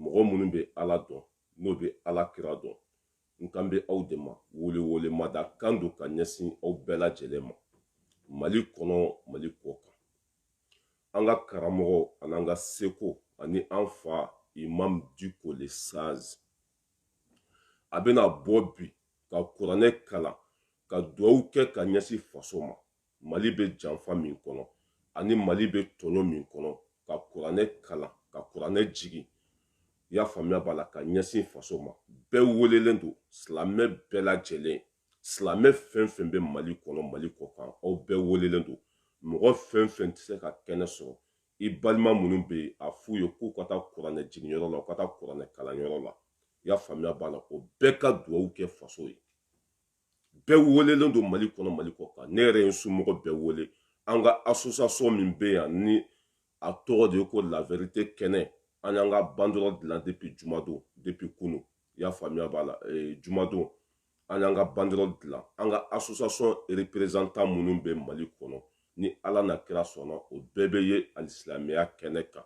mɔgɔ minnu bɛ ala dɔn n'o bɛ ala kira dɔn n kan bɛ aw de ma welewele mada kan don ka ɲɛsin aw bɛɛ lajɛlen ma mali kɔnɔ mali kɔ kan an ka karamɔgɔ an'an ka seko ani an fa imam diko le sage a bɛna bɔ bi ka kuranɛ kalan ka duwawu kɛ ka ɲɛsin faso ma mali bɛ janfa min kɔnɔ ani mali bɛ tɔɲɔ min kɔnɔ ka kuranɛ kalan ka kuranɛ jigin i y'a faamuya b'a la ka ɲɛsin faso ma bɛɛ welelen don silamɛ bɛɛ lajɛlen silamɛ fɛn fɛn bɛ mali kɔnɔ mali kɔ kan aw bɛɛ welelen don mɔgɔ fɛn fɛn tɛ se ka kɛnɛ sɔrɔ i balima minnu bɛ yen a f'u ye k'u ka taa kuranɛ jiginyɔrɔ la u ka taa kuranɛ kalanyɔrɔ la i y'a faamuya b'a la o bɛɛ ka duwawu kɛ faso ye bɛɛ welelen don mali kɔnɔ mali kɔ kan ne yɛrɛ ye n somɔgɔ bɛɛ wele an ka association min bɛ yan ni a tɔgɔ de ye ko la vérité kɛnɛ an y'an ka banderole dilan depuis jumadon depuis kunu i y'a faamuya b'a la eh, jumadon an y'an ka banderole dilan an ka association représentant minnu bɛ mali kɔnɔ ni ala n'a kira sɔnna o bɛɛ bɛ yen alisilamɛya kɛnɛ kan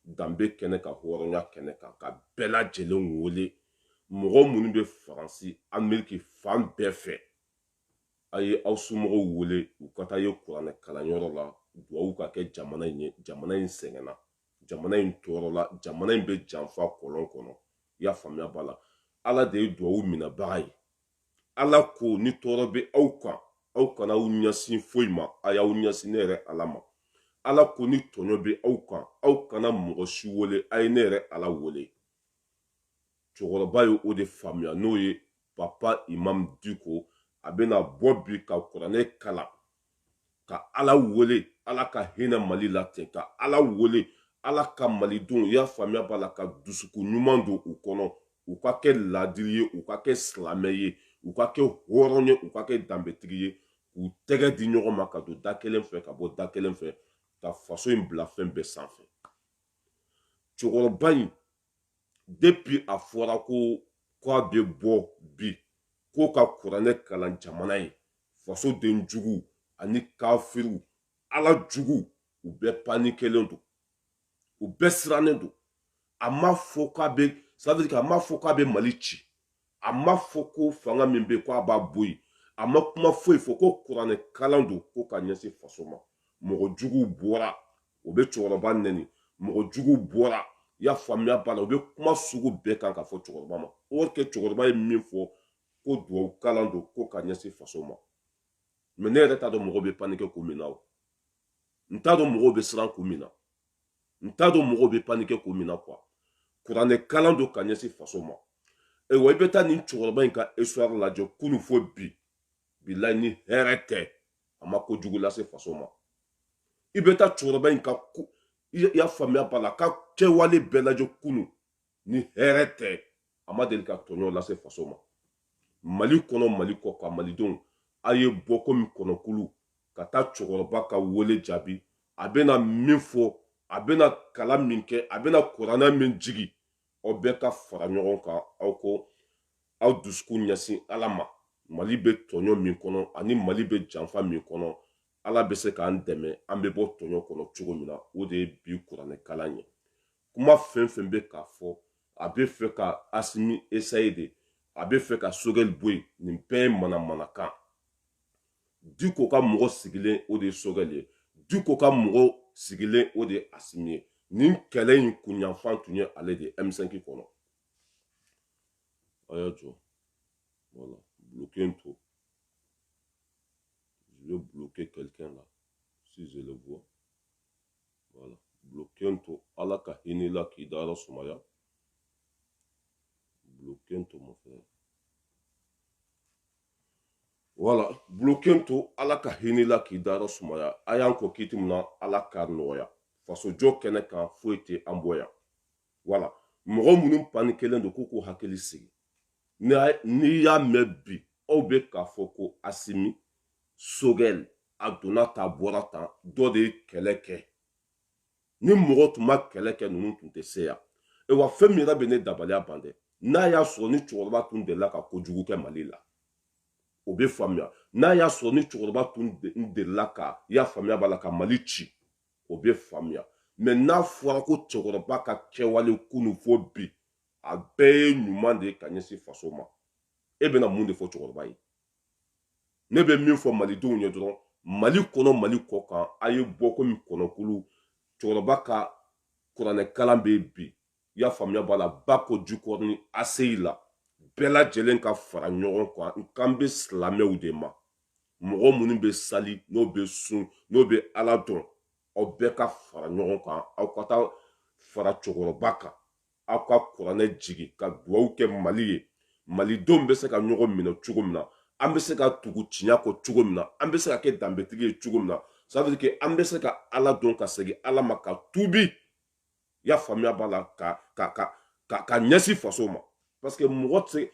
danbe kɛnɛ kan hɔrɔnya kɛnɛ kan ka bɛɛ lajɛlen wele mɔgɔ minnu bɛ faransi ameriki fan bɛɛ fɛ a ye aw somɔgɔw wele u ka taa yen kuranɛ kalanyɔrɔ la duwawu ka kɛ jamana in ye jamana in sɛgɛnna jamana in tɔɔrɔla jamana in bɛ janfa kɔlɔn kɔnɔ i y'a faamuya b'a la ala de ye duwawu minɛbaga ye ala ko ni tɔɔrɔ bɛ aw kan aw kana aw ɲɛsin foyi ma a y'aw ɲɛsin ne yɛrɛ ala ma ala ko ni tɔɲɔ bɛ aw kan aw kana mɔgɔ si wele a ye ne yɛrɛ ala wele cɛkɔrɔba ye o de faamuya n'o ye papa imam diko a bɛna bɔ bi ka kuranɛ kalan ka ala wele ala ka hinɛ mali la ten ka ala wele ala ka malidenw i y'a faamuya b'a la ka dusukun ɲuman don u kɔnɔ u ka kɛ laadiri ye u ka kɛ silamɛ ye u ka kɛ hɔrɔn ye u ka kɛ danbetigi ye k'u tɛgɛ di ɲɔgɔn ma ka don da kelen fɛ ka bɔ da kelen fɛ ka faso in bila fɛn bɛɛ sanfɛ cɛkɔrɔba in depuis a fɔra ko k'a bɛ bɔ bi ko ka kuranɛ kalan jamana ye fasoden jugu ani kafiriw ala jugu u bɛɛ panikelen don u bɛɛ sirannen don a ma fɔ k'a bɛ ça veut dire a ma fɔ k'a bɛ mali ci a ma fɔ ko fanga min bɛ ko a b'a bɔ yen a ma kuma foyi fɔ ko kuranɛ kalan don ko ka ɲɛsin faso ma mɔgɔ juguw bɔra o bɛ cɛkɔrɔba nɛni mɔgɔ juguw bɔra i y'a faamuya b'a la u bɛ kuma sugu bɛɛ kan ka fɔ cɛkɔrɔba ma or que cɛkɔrɔba ye min fɔ ko duwawu kalan don ko ka ɲɛsin faso ma mɛ ne yɛrɛ t'a dɔn mɔgɔw bɛ panike kun min na o n t'a dɔn mɔgɔw bɛ siran kun min na n t'a dɔn mɔgɔw bɛ panike kun min na kuwa kuranɛ kalan don ka ɲɛsin faso ma ayiwa i bɛ taa nin cɛkɔrɔba in ka histoire lajɛ kunu fo bi bilayi ni hɛrɛ tɛ a ma kojugu lase faso ma i bɛ taa cɛkɔrɔba in ka i y'a faamuya b'a la ka kɛwale bɛɛ lajɛ kunu ni hɛrɛ tɛ a ma deli ka tɔɲɔ lase faso ma mali kɔnɔ mali kɔ kan malidenw a ye bɔ komi kɔnɔkulu ka taa cɛkɔrɔba ka wele jaabi a bɛna min fɔ a bɛna kalan min kɛ a bɛna kuranɛ min jigi aw bɛɛ ka fara ɲɔgɔn kan aw k'aw dusukun ɲɛsin ala ma mali bɛ tɔɲɔ min kɔnɔ ani mali bɛ janfa min kɔnɔ ala bɛ se k'an dɛmɛ an bɛ bɔ tɔɲɔ kɔnɔ cogo min na o de ye bi kuranɛkalan ye kuma fɛn fɛn bɛ k'a fɔ a bɛ fɛ ka asimi esaye de a bɛ fɛ ka sogɛli bɔ yen nin bɛɛ ye manamanakan diko ka mɔgɔ sigilen o de ye sogɛli ye diko ka mɔgɔ sigilen o de ye asimi ye nin kɛlɛ in kunyanfan tun ye ale de ye m5 kɔnɔ a y'a jɔ voilà bloqué in to je vais bloquer quelqu'un là si je le vois voilà bloqué in to ala ka hinɛ i la k'i dayɔrɔ sumaya bloqué in to mon frère wala buloken to ala ka hinɛ i la k'i dayɔrɔ sumaya a y'an kɔn kiti min na ala k'a nɔgɔya fasojɔ kɛnɛ kan foyi tɛ an bɔ yan wala mɔgɔ minnu panikelen don k'u k'u hakili sigi n'i y'a mɛn bi aw bɛ k'a fɔ ko asimi sogɛl a donna tan bɔra tan dɔ de ye kɛlɛ kɛ ni mɔgɔ tun ma kɛlɛ kɛ ninnu tun tɛ se yan awa fɛn min yɛrɛ bɛ ne dabaliya ban dɛ n'a y'a sɔrɔ ni cɛkɔrɔba tun delila ka kojugu kɛ mali la o bɛ faamuya n'a y'a sɔrɔ ni cɛkɔrɔba tun delila ka i y'a faamuya b'a la ka mali ci o bɛ faamuya mɛ n'a fɔra ko cɛkɔrɔba ka kɛwale kunu fo bi a bɛɛ ye ɲuman de ye ka ɲɛsin faso ma e bɛna mun de fɔ cɛkɔrɔba ye ne bɛ min fɔ malidenw ye dɔrɔn mali kɔnɔ mali kɔ kan a ye bɔ komi kɔnɔkulu cɛkɔrɔba ka kuranɛkalan bɛ bi i y'a faamuya b'a la bako jikɔrɔni aseyi la bɛɛ lajɛlen ka fara ɲɔgɔn kan n kan bɛ silamɛw de ma mɔgɔ minnu bɛ sali n'o bɛ sun n'o bɛ ala dɔn aw bɛɛ ka fara ɲɔgɔn kan aw ka taa fara cɛkɔrɔba kan aw ka kuranɛ jigi ka duwaw kɛ mali ye malidenw bɛ se ka ɲɔgɔn minɛ cogo min na an bɛ se ka tugu tiɲɛ kɔ cogo min na an bɛ se ka kɛ danbetigi ye cogo min na ça veut dire que an bɛ se ka ala dɔn ka segin ala ma ka tuubi i y'a faamuya b'a la ka ka ka ka ka ɲɛsin faso ma parce que mɔgɔ tɛ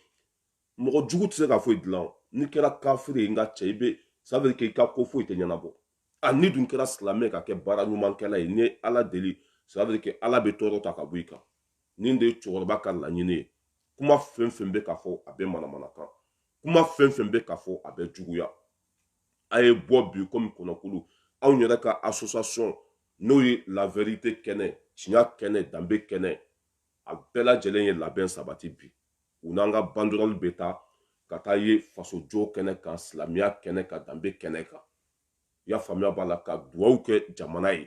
mɔgɔ jugu tɛ se ka foyi dilan n'i kɛra kafiri ye n ka cɛ i bɛ ça veut dire que i ka ko foyi tɛ ɲɛnabɔ a n'i dun kɛra silamɛ ka kɛ baara ɲumankɛla ye n'i ye ala deli ça veut dire que ala bɛ tɔɔrɔ ta ka bɔ i kan nin de ye cɛkɔrɔba ka laɲini ye kuma fɛn fɛn bɛ ka fɔ a bɛɛ manamanakan kuma fɛn fɛn bɛ ka fɔ a bɛɛ juguya a ye bɔ bi komi kɔnɔkulu anw yɛrɛ ka association n'o ye la vérité kɛnɛ tiɲa kɛnɛ danbe kɛnɛ a bɛɛ lajɛlen ye labɛn sabati bi u n'an ka banderole bɛ taa ka taa ye fasojɔ kɛnɛ kan silamɛya kɛnɛ kan danbe kɛnɛ kan i y'a faamuya b'a la ka duwawu kɛ jamana ye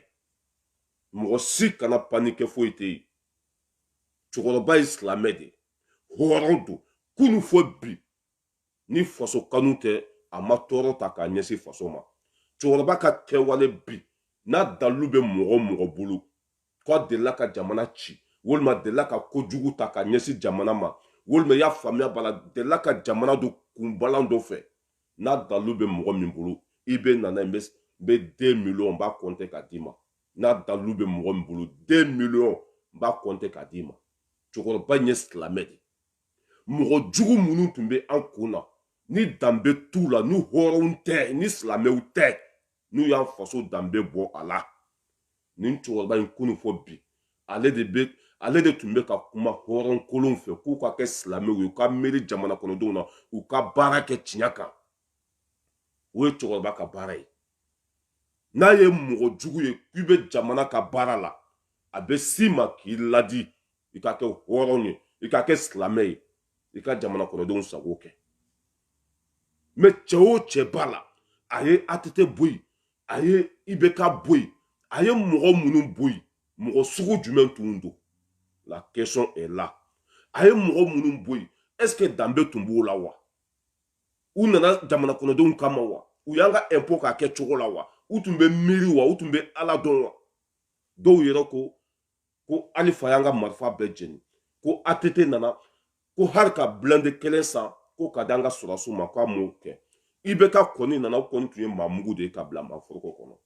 mɔgɔ si kana paniquer foyi tɛ yen cɛkɔrɔba ye silamɛ de hɔrɔn don kunu fo bi ni faso kanu tɛ a ma tɔɔrɔ ta k'a ɲɛsin faso ma cɛkɔrɔba ka kɛwale bi n'a dalilu bɛ mɔgɔ mɔgɔ bolo ko a delila ka jamana ci walima delila ka ko jugu ta ka ɲɛsin jamana ma walima i y'a faamuya b'a la delila ka jamana don kunbalan dɔ fɛ n'a dalu bɛ mɔgɔ min bolo i bɛ nana n bɛ deux millions n b'a kɔnte k'a d'i ma n'a dalu bɛ mɔgɔ min bolo deux millions n b'a kɔnte k'a d'i ma cɛkɔrɔba in ye silamɛ de mɔgɔ jugu minnu tun bɛ an kun na ni danbe t'u la ni hɔrɔnw tɛ ni silamɛw tɛ n'u y'an faso danbe bɔ a la nin cɛkɔrɔba in kunu fo bi ale de bɛ ale de tun bɛ ka kuma hɔrɔn kolonw fɛ k'u ka kɛ silamɛw ye u ka miiri jamana kɔnɔdenw na u ka baara kɛ tiɲɛ kan o ye cɛkɔrɔba ka baara ye n'a ye mɔgɔ jugu ye k'i bɛ jamana ka baara la a bɛ s'i ma k'i ladi i ka kɛ hɔrɔn ye i ka kɛ silamɛ ye i ka jamana kɔnɔdenw sago kɛ mais cɛ o cɛ b'a la a ye att bɔ yen a ye ibk bɔ yen a ye mɔgɔ minnu bɔ yen mɔgɔ sugu jumɛn tun don la question est là a ye mɔgɔ minnu bɔ yen est ce que danbe tun b'o la wa u nana jamana kɔnɔdenw kama wa u y'an ka impôt k'a kɛ cogo la wa u tun bɛ miiri wa u tun bɛ ala dɔn wa dɔw yɛrɛ ko ko alifa y'an ka marifa bɛɛ jeni ko att nana ko hali ka blindé kelen san ko k'a d'an ka sɔrɔsiw ma ko a m'o kɛ ibk kɔni nana o kɔni tun ye maa mugu de ye ka bila maa foroko kɔnɔ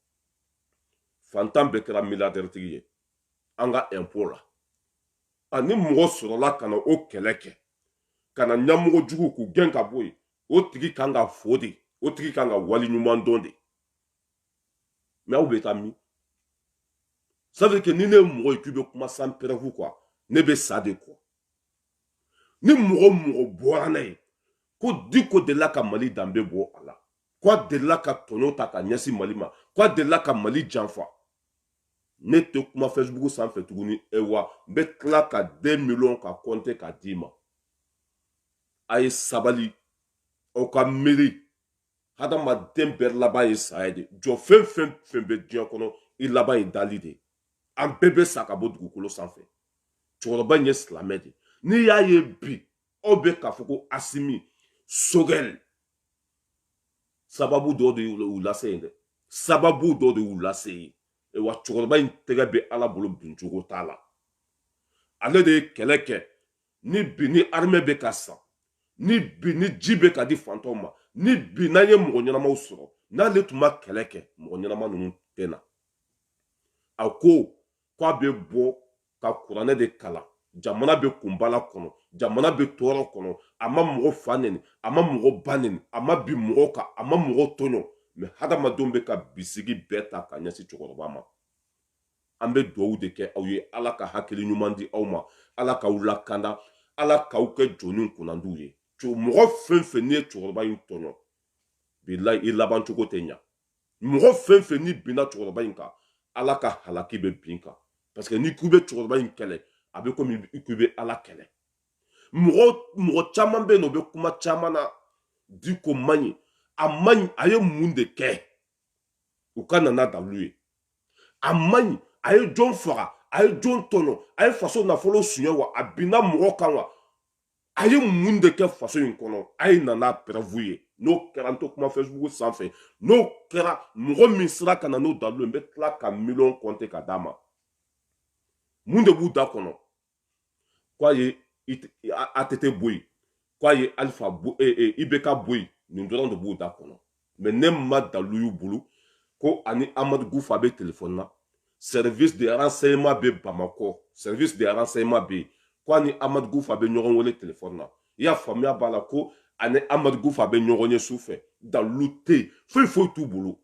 fantan bɛɛ kɛra milliardaire tigi ye an ka impôt la a ni mɔgɔ sɔrɔla ka na o kɛlɛ kɛ ka na ɲɛmɔgɔ jugu k'u gɛn ka bɔ yen o tigi kan ka fo dɛ o tigi kan ka wali ɲuman dɔn dɛ mais aw bɛ taa min ça veut dire que ni ne ye mɔgɔ ye k'i bɛ kuma sans preuve quoi ne bɛ sa de quoi ni mɔgɔ mɔgɔ bɔra n'a ye ko diko delila ka mali danbe bɔ a la ko a delila ka tɔɲɔ ta ka ɲɛsin mali ma ko a delila ka mali janfa ne tɛ kuma facebook sanfɛ tuguni e wa n bɛ tila ka deux millions ka kɔnte ka d'i ma a ye sabali aw ka miiri hadamaden bɛɛ laban ye saya de jɔfɛn fɛn fɛn bɛ diɲɛ kɔnɔ i laban ye dali de an bɛɛ bɛ sa ka bɔ dugukolo sanfɛ cɛkɔrɔba in ye silamɛ de n'i y'a ye bi aw bɛ k'a fɔ ko asimi sogɛl sababu dɔ de y'u lase yen dɛ sababu dɔ de y'u lase yen wa cɛkɔrɔba in tɛgɛ bɛ ala bolo bincogo t'a la ale de ye kɛlɛ kɛ ni bi ni armɛ bɛ ka san ni bi ni ji bɛ ka di fantanw ma ni bi n'an ye mɔgɔ ɲɛnamaw sɔrɔ n'ale tun ma kɛlɛ kɛ mɔgɔ ɲɛnama ninnu tɛ na a ko k'a bɛ bɔ ka kuranɛ de kalan jamana bɛ kunbala kɔnɔ jamana bɛ tɔɔrɔ kɔnɔ a ma mɔgɔ fa neni a ma mɔgɔ ba neni a ma bin mɔgɔ kan a ma mɔgɔ tɔɲɔ mais hadamadenw bɛ ka bisigi bɛɛ ta ka ɲɛsin cɛkɔrɔba ma an bɛ dugawu de kɛ aw ye ala ka hakili ɲuman di aw ma ala k'aw lakanda ala k'aw kɛ jɔni kunnandiw ye mɔgɔ fɛn fɛn n'i ye cɛkɔrɔba in tɔɲɔ bilayi i laban cogo tɛ ɲa mɔgɔ fɛn fɛn n'i binna cɛkɔrɔba in kan ala ka halaki bɛ bin i kan parce que n'i k'i bɛ cɛkɔrɔba in kɛlɛ a bɛ komi i k'i bɛ ala kɛlɛ mɔgɔ caman bɛ yen n'o bɛ kuma caman na diko man ɲi a man ɲi a ye mun de kɛ u ka na n'a dalu ye a man ɲi a ye jɔn faga a ye jɔn tɔɲɔ a ye faso nafolo suɲɛ wa a binna mɔgɔ kan wa a ye mun de kɛ faso in kɔnɔ a ye na n'a preuve ye n'o kɛra n tɛ kuma facebook sanfɛ n'o kɛra mɔgɔ min sera ka na n'o dalu ye n bɛ tila ka miliyɔn kɔnte ka d'a ma mun de b'u da kɔnɔ k'a ye atete bɔ yen k'a ye alifa e, e, ibeka bɔ yen nin dɔrɔn de b'u da kɔnɔ mais ne ma dalu y'u bolo ko a ni amadu kufa bɛ telefɔni na service de renseignement bɛ bamakɔ service de renseignement bɛ yen ko a ni amadu kufa bɛ ɲɔgɔn wele telefɔni na i y'a faamuya b'a la ko a ni amadu kufa bɛ ɲɔgɔn ye su fɛ dalu tɛ yen foyi foyi t'u bolo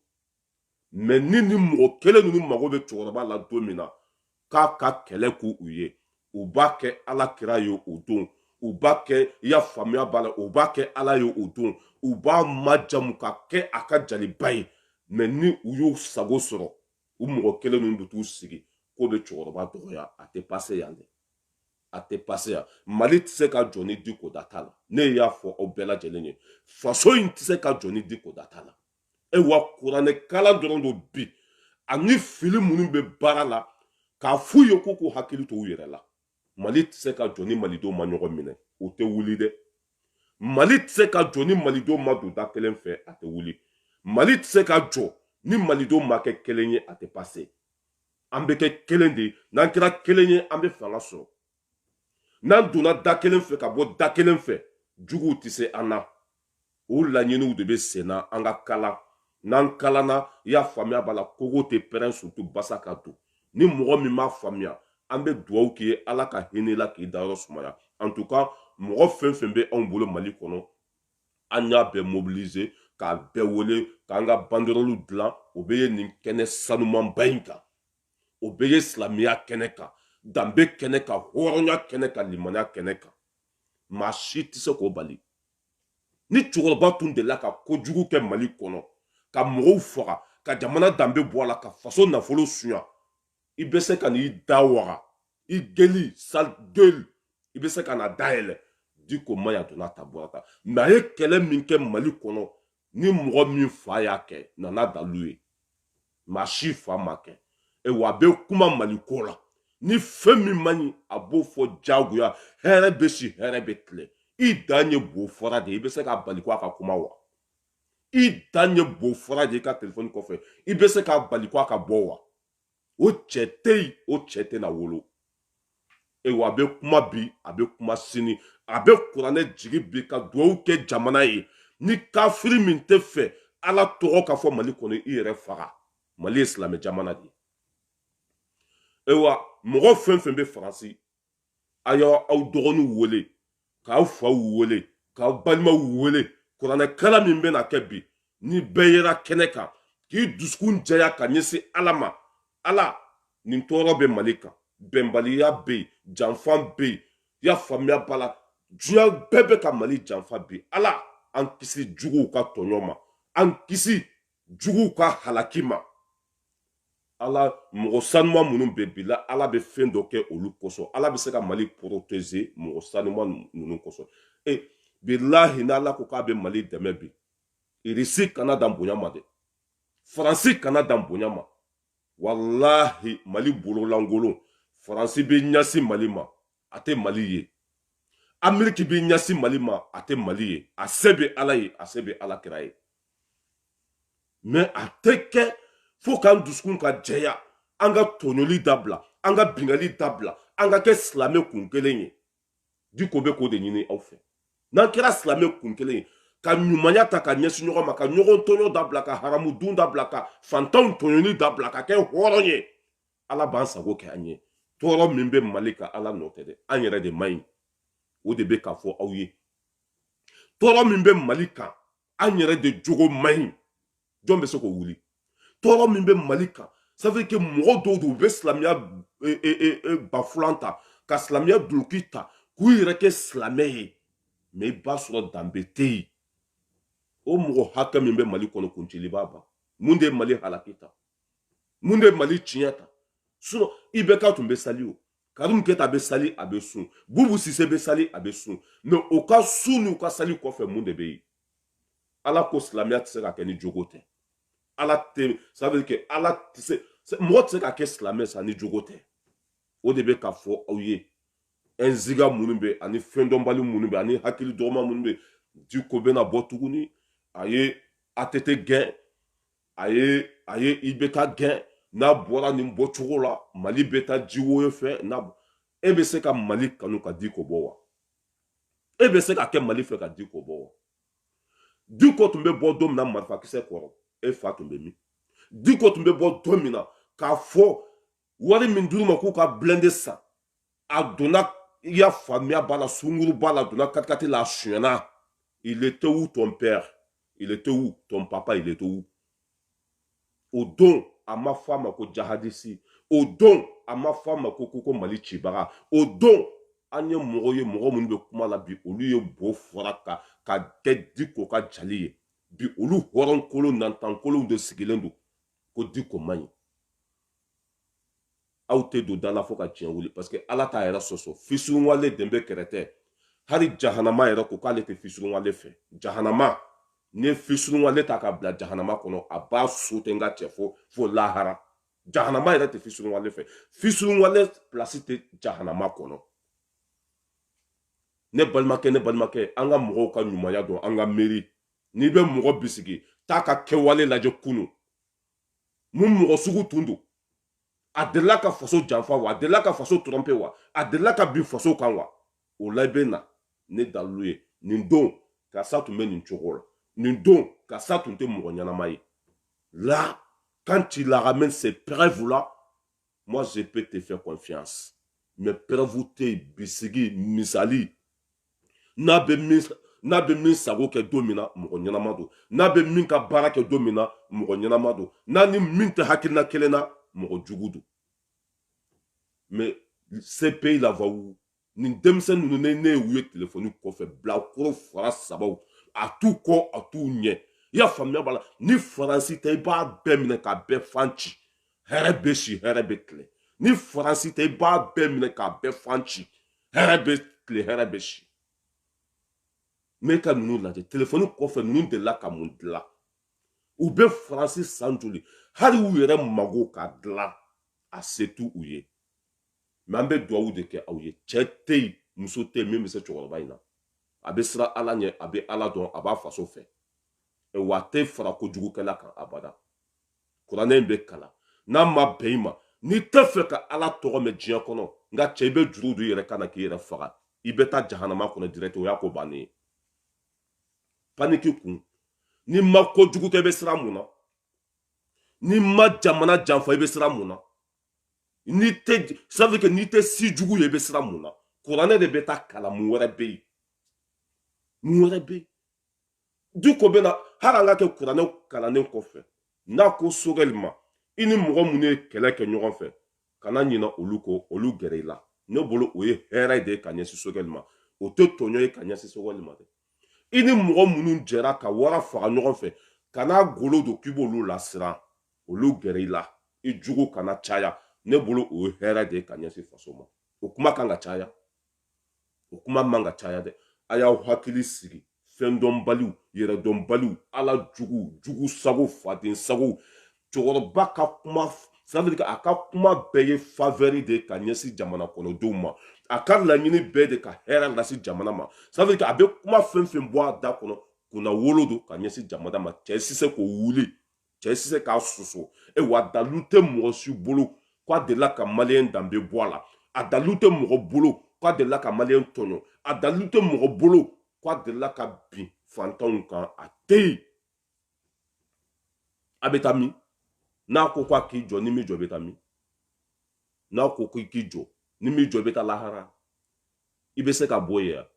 mais ni ni mɔgɔ kelen ninnu mago bɛ cɛkɔrɔba la don min na k'a ka kɛlɛ k'u ye u b'a kɛ ala kira ye o don u b'a kɛ i y'a faamuya b'a la u b'a kɛ ala ye o don u b'a majamu ka kɛ a ka jaliba ye mais ni u y'u sago sɔrɔ u mɔgɔ kelen ninnu bɛ t'u sigi k'u bɛ cɛkɔrɔba dɔgɔya a tɛ pase yan dɛ a tɛ pase yan mali tɛ se ka jɔ ni diko da t'a la ne y'a fɔ aw bɛɛ lajɛlen ye faso in tɛ se ka jɔ ni diko da t'a la awa kuranɛ kalan dɔrɔn don bi ani fili minnu bɛ baara la k'a f'u ye k'u k'u hakili to u yɛrɛ la mali tɛ se ka jɔ ni malidenw ma ɲɔgɔn minɛ o tɛ wuli dɛ mali tɛ se ka jɔ ni malidenw ma don da kelen fɛ a tɛ wuli mali tɛ se ka jɔ ni malidenw ma kɛ kelen ye a tɛ pase an bɛ kɛ kelen de ye n'an kɛra kelen ye an bɛ fanga sɔrɔ n'an donna da kelen fɛ ka bɔ da kelen fɛ juguw tɛ se an na o laɲiniw de bɛ sen na an ka kalan n'an kalanna i y'a faamuya b'a la kogo tɛ pɛrɛn surtout basa ka don ni mɔgɔ min m'a faamuya an bɛ dugawu k'i ye ala ka hinɛ i la k'i dayɔrɔ sumaya en tout cas mɔgɔ fɛn fɛn bɛ anw bolo mali kɔnɔ an y'a bɛɛ mobiliser k'a bɛɛ wele k'an ka banderoliw dilan o bɛ ye nin kɛnɛ sanumanba in kan o bɛ ye silamɛya kɛnɛ kan danbe kɛnɛ kan hɔrɔnya kɛnɛ kan limaniya kɛnɛ kan maa si tɛ se k'o bali ni cɛkɔrɔba tun delila ka kojugu kɛ mali kɔnɔ ka mɔgɔw faga ka jamana danbe bɔ a la ka faso nafolo suɲa i bɛ se ka n'i da waga i gueule sale gueule i bɛ se ka na dayɛlɛ diko man ɲi a donna tan bɔra tan mais a ye kɛlɛ min kɛ mali kɔnɔ ni mɔgɔ min fa y'a kɛ na n'a dalu ye maa si fa m'a kɛ awa a bɛ kuma mali ko la ni fɛn min man ɲi a b'o fɔ jagoya hɛrɛ bɛ si hɛrɛ bɛ tile i dan ye bo fɔra de i bɛ se k'a bali ko a ka kuma wa i dan ye bo fɔra de i ka telefɔni kɔfɛ i bɛ se k'a bali ko a ka bɔ wa o cɛ tɛ yen o cɛ tɛna wolo awa a bɛ kuma bi a bɛ kuma sini a bɛ kuranɛ jigin bi ka dugawu kɛ jamana ye ni kafiri min tɛ fɛ ala tɔgɔ ka fɔ mali kɔnɔ i yɛrɛ faga mali ye silamɛ jamana de ye awa mɔgɔ fɛn fɛn bɛ faransi a y'aw dɔgɔninw wele k'aw faw wele k'aw balimaw wele kuranɛ kalan min bɛna kɛ bi ni bɛɛ yera kɛnɛ kan k'i dusukun jɛya ka ɲɛsin ala ma ala nin tɔɔrɔ bɛ mali kan bɛnbaliya bɛ yen janfa bɛ yen y'a faamuya b'a la diɲɛ bɛɛ bɛ ka mali janfa bi ala an kisi juguw ka tɔɲɔ ma an kisi juguw ka halaki ma ala mɔgɔ sanuma minnu bɛ bi la ala bɛ fɛn dɔ kɛ olu kosɔn ala bɛ se ka mali protéger mɔgɔ sanuma ninnu kosɔn e bilahi n'ala ko k'a bɛ mali dɛmɛ bi irisi kana dan bonya ma dɛ faransi kana dan bonya ma walahi mali bololankolon faransi bɛ ɲɛsin mali ma a tɛ mali ye ameriki bɛ ɲɛsin mali ma a tɛ mali ye a se bɛ ala ye a se bɛ ala kira ye mais a tɛ kɛ fo k'an dusukun ka jɛya an ka tɔɲɔli dabila an ka bingali dabila an ka kɛ silamɛ kun kelen ye diko bɛ k'o de ɲini aw fɛ n'an kɛra silamɛ kun kelen ye ka ɲumanya ta ka ɲɛsin ɲɔgɔn ma ka ɲɔgɔn tɔɲɔ dabila ka haramu dun dabila ka fantanw tɔɲɔli dabila ka kɛ hɔrɔn ye ala b'an sago kɛ an ye tɔɔrɔ min bɛ mali kan ala nɔ tɛ dɛ an yɛrɛ de man ɲi o de bɛ k'a fɔ aw ye tɔɔrɔ min bɛ mali kan an yɛrɛ de jogo man ɲi jɔn bɛ se k'o wuli tɔɔrɔ min bɛ mali kan ça veut dire que mɔgɔ dɔw don u bɛ silamɛya e, e, e, bafulan ta ka silamɛya duloki ta k'u yɛrɛ kɛ silamɛ ye mais i b'a sɔrɔ danbe tɛ yen o mɔgɔ hakɛ min bɛ mali kɔnɔ kuncili b'a ban mun de ye mali halaki tan mun de ye mali tiɲɛ tan sinon ibeka tun bɛ sali o karimu keta a bɛ sali a bɛ sun bubu sise bɛ sali a bɛ sun mais o ka sun n'u ka sali kɔfɛ mun de bɛ yen ala ko silamɛya tɛ se ka kɛ ni jogo tɛ ala tɛ ça veut dire que ala tɛ se mɔgɔ tɛ se ka kɛ silamɛ sa ni jogo tɛ o de bɛ ka fɔ aw ye ɛnziga minnu bɛ ani fɛndɔnbali minnu bɛ ani hakili dɔgɔma minnu bɛ diko bɛna bɔ tuguni a ye atete gɛn a ye a ye ibeka gɛn n'a bɔra nin bɔcogo la mali bɛ taa jiwoyo fɛ e bɛ se ka mali kanu ka diko bɔ wa e bɛ se ka kɛ mali fɛ ka diko bɔ wa diko tun bɛ bɔ don min na marifakisɛ kɔrɔ e fa tun bɛ min diko tun bɛ bɔ don min na k'a fɔ wari min dir'u ma k'u ka blende san a donna i y'a faamuya b'a la sungurunba la donna katikati la a sonyana il était où ton père il était où ton papa il était où o don a ma fɔ a ma ko jahadisi o don a ma fɔ a ma ko ko ko mali cibaga o don an ye mɔgɔ ye mɔgɔ minnu bɛ kuma la bi olu ye bo fɔra ka ka kɛ diko ka jali ye bi olu hɔrɔnkolon nantankolonw de sigilen don ko diko man ɲi aw tɛ don da la fo ka diɲɛ wuli parce que ala t'a yɛrɛ sɔsɔ fisurunwale den bɛ kɛrɛ tɛ hali jahanama yɛrɛ ko k'ale tɛ fisurunwale fɛ jahanama n'i ye fisurunwale ta ka bila jahanama kɔnɔ a b'a sote n ka cɛ fo fo lahara jahanama yɛrɛ tɛ fisurunwale fɛ fisurunwale pilasi tɛ jahanama kɔnɔ ne balimakɛ ne balimakɛ an ka mɔgɔw ka ɲumanya dɔn an ka miiri n'i bɛ mɔgɔ bisigi taa ka kɛwale lajɛ kunu mun mɔgɔ sugu tun don a delila ka faso janfa wa a delila ka faso trɔmpe wa a delila ka bin faso kan wa o la i bɛ na ni dalilu ye nin don karisa tun bɛ nin cogo la nin don karisa tun tɛ mɔgɔ ɲɛnama ye là quand tu la ramènes ces preuves là moi je peux te faire confiance mais preuve tɛ bisigi misali n'a bɛ min sago kɛ don min na mɔgɔ ɲɛnama don n'a bɛ min ka baara kɛ don min na mɔgɔ ɲɛnama don n'a ni min tɛ hakilina kelen na mɔgɔ jugu don mais ce pays là va où nin denmisɛnnin ninnu ne y'u ye telefɔni kɔfɛ bilakoro fara sabaw a t'u kɔ a t'u ɲɛ i y'a faamuya b'a la ni faransi tɛ i b'a bɛɛ minɛ k'a bɛɛ fan ci hɛrɛ bɛ si hɛrɛ bɛ tile ni faransi tɛ i b'a bɛɛ minɛ k'a bɛɛ fan ci hɛrɛ bɛ tile hɛrɛ bɛ si mais ka ninnu lajɛ telefɔni kɔfɛ ninnu delila ka mun dilan u bɛ faransi san joli hali u yɛrɛ mago ka dilan a se t'u ye mais an bɛ duwawu de kɛ aw ye cɛ tɛ yen muso tɛ yen min bɛ se cɛkɔrɔba in na a bɛ siran ala ɲɛ a bɛ ala dɔn a b'a faso fɛ wa a tɛ fara kojugukɛla kan abada kuranɛ in bɛ kalan n'a ma bɛn i ma n'i tɛ fɛ ka ala tɔgɔ mɛn diɲɛ kɔnɔ n ka cɛ i bɛ juru don i yɛrɛ kan na k'i yɛrɛ faga i bɛ taa jahanama kɔnɔ direct o y'a ko bannen ye paniki kun n'i ma kojugu kɛ i bɛ siran mun na n'i ma jamana janfa i bɛ siran mun na ça veut dire que n'i tɛ si jugu ye i bɛ siran mun na kuranɛ de bɛ taa kalan mun wɛrɛ bɛ yen mun wɛrɛ bɛ yen diko bɛ na hali an ka kɛ kuranɛ kalannen kɔfɛ n'a ko sogɛli ma i ni mɔgɔ minnu ye kɛlɛ kɛ ɲɔgɔn fɛ kana ɲina olu kɔ olu gɛrɛ i la ne bolo o ye hɛrɛ de ye ka ɲɛsin sogɛli ma o tɛ tɔɲɔ ye ka ɲɛsin sogɛli ma dɛ i ni mɔgɔ minnu jɛra ka wara faga ɲɔgɔn fɛ kan'a golo don k'i b'olu lasiran olu gɛrɛ i la i jugu kana caya ne bolo o ye hɛrɛ de ye ka ɲɛsin faso ma o kuma kan ka caya o kuma man ka caya dɛ a y'aw hakili sigi fɛndɔnbaliw yɛrɛdɔnbaliw ala jugu jugu sago faden sago cɛkɔrɔba ka kuma ça veut dire a ka kuma bɛɛ ye faveur de ka ɲɛsin jamana kɔnɔdenw ma a ka laɲini bɛɛ de ka hɛrɛ lase jamana ma ça veut dire a bɛ kuma fɛn fɛn bɔ a da kɔnɔ kunnawolo don ka ɲɛsin jamana ma cɛ si se k'o wuli cɛ si se k'a sɔsɔ e wa dalu tɛ mɔgɔ si bolo k'a delila ka maliyɛn danbe bɔ a la a dalu tɛ mɔgɔ bolo k'a delila ka maliyɛn tɔɲɔ a dalu tɛ mɔgɔ bolo k'a delila ka bin fantanw kan a tɛ yen a bɛ taa min n'a ko ko a k'i jɔ n'i m'i jɔ i bɛ taa min n'a ko ko i k'i jɔ n'i m'i jɔ i bɛ taa lahara i bɛ se k'a bɔ yen yan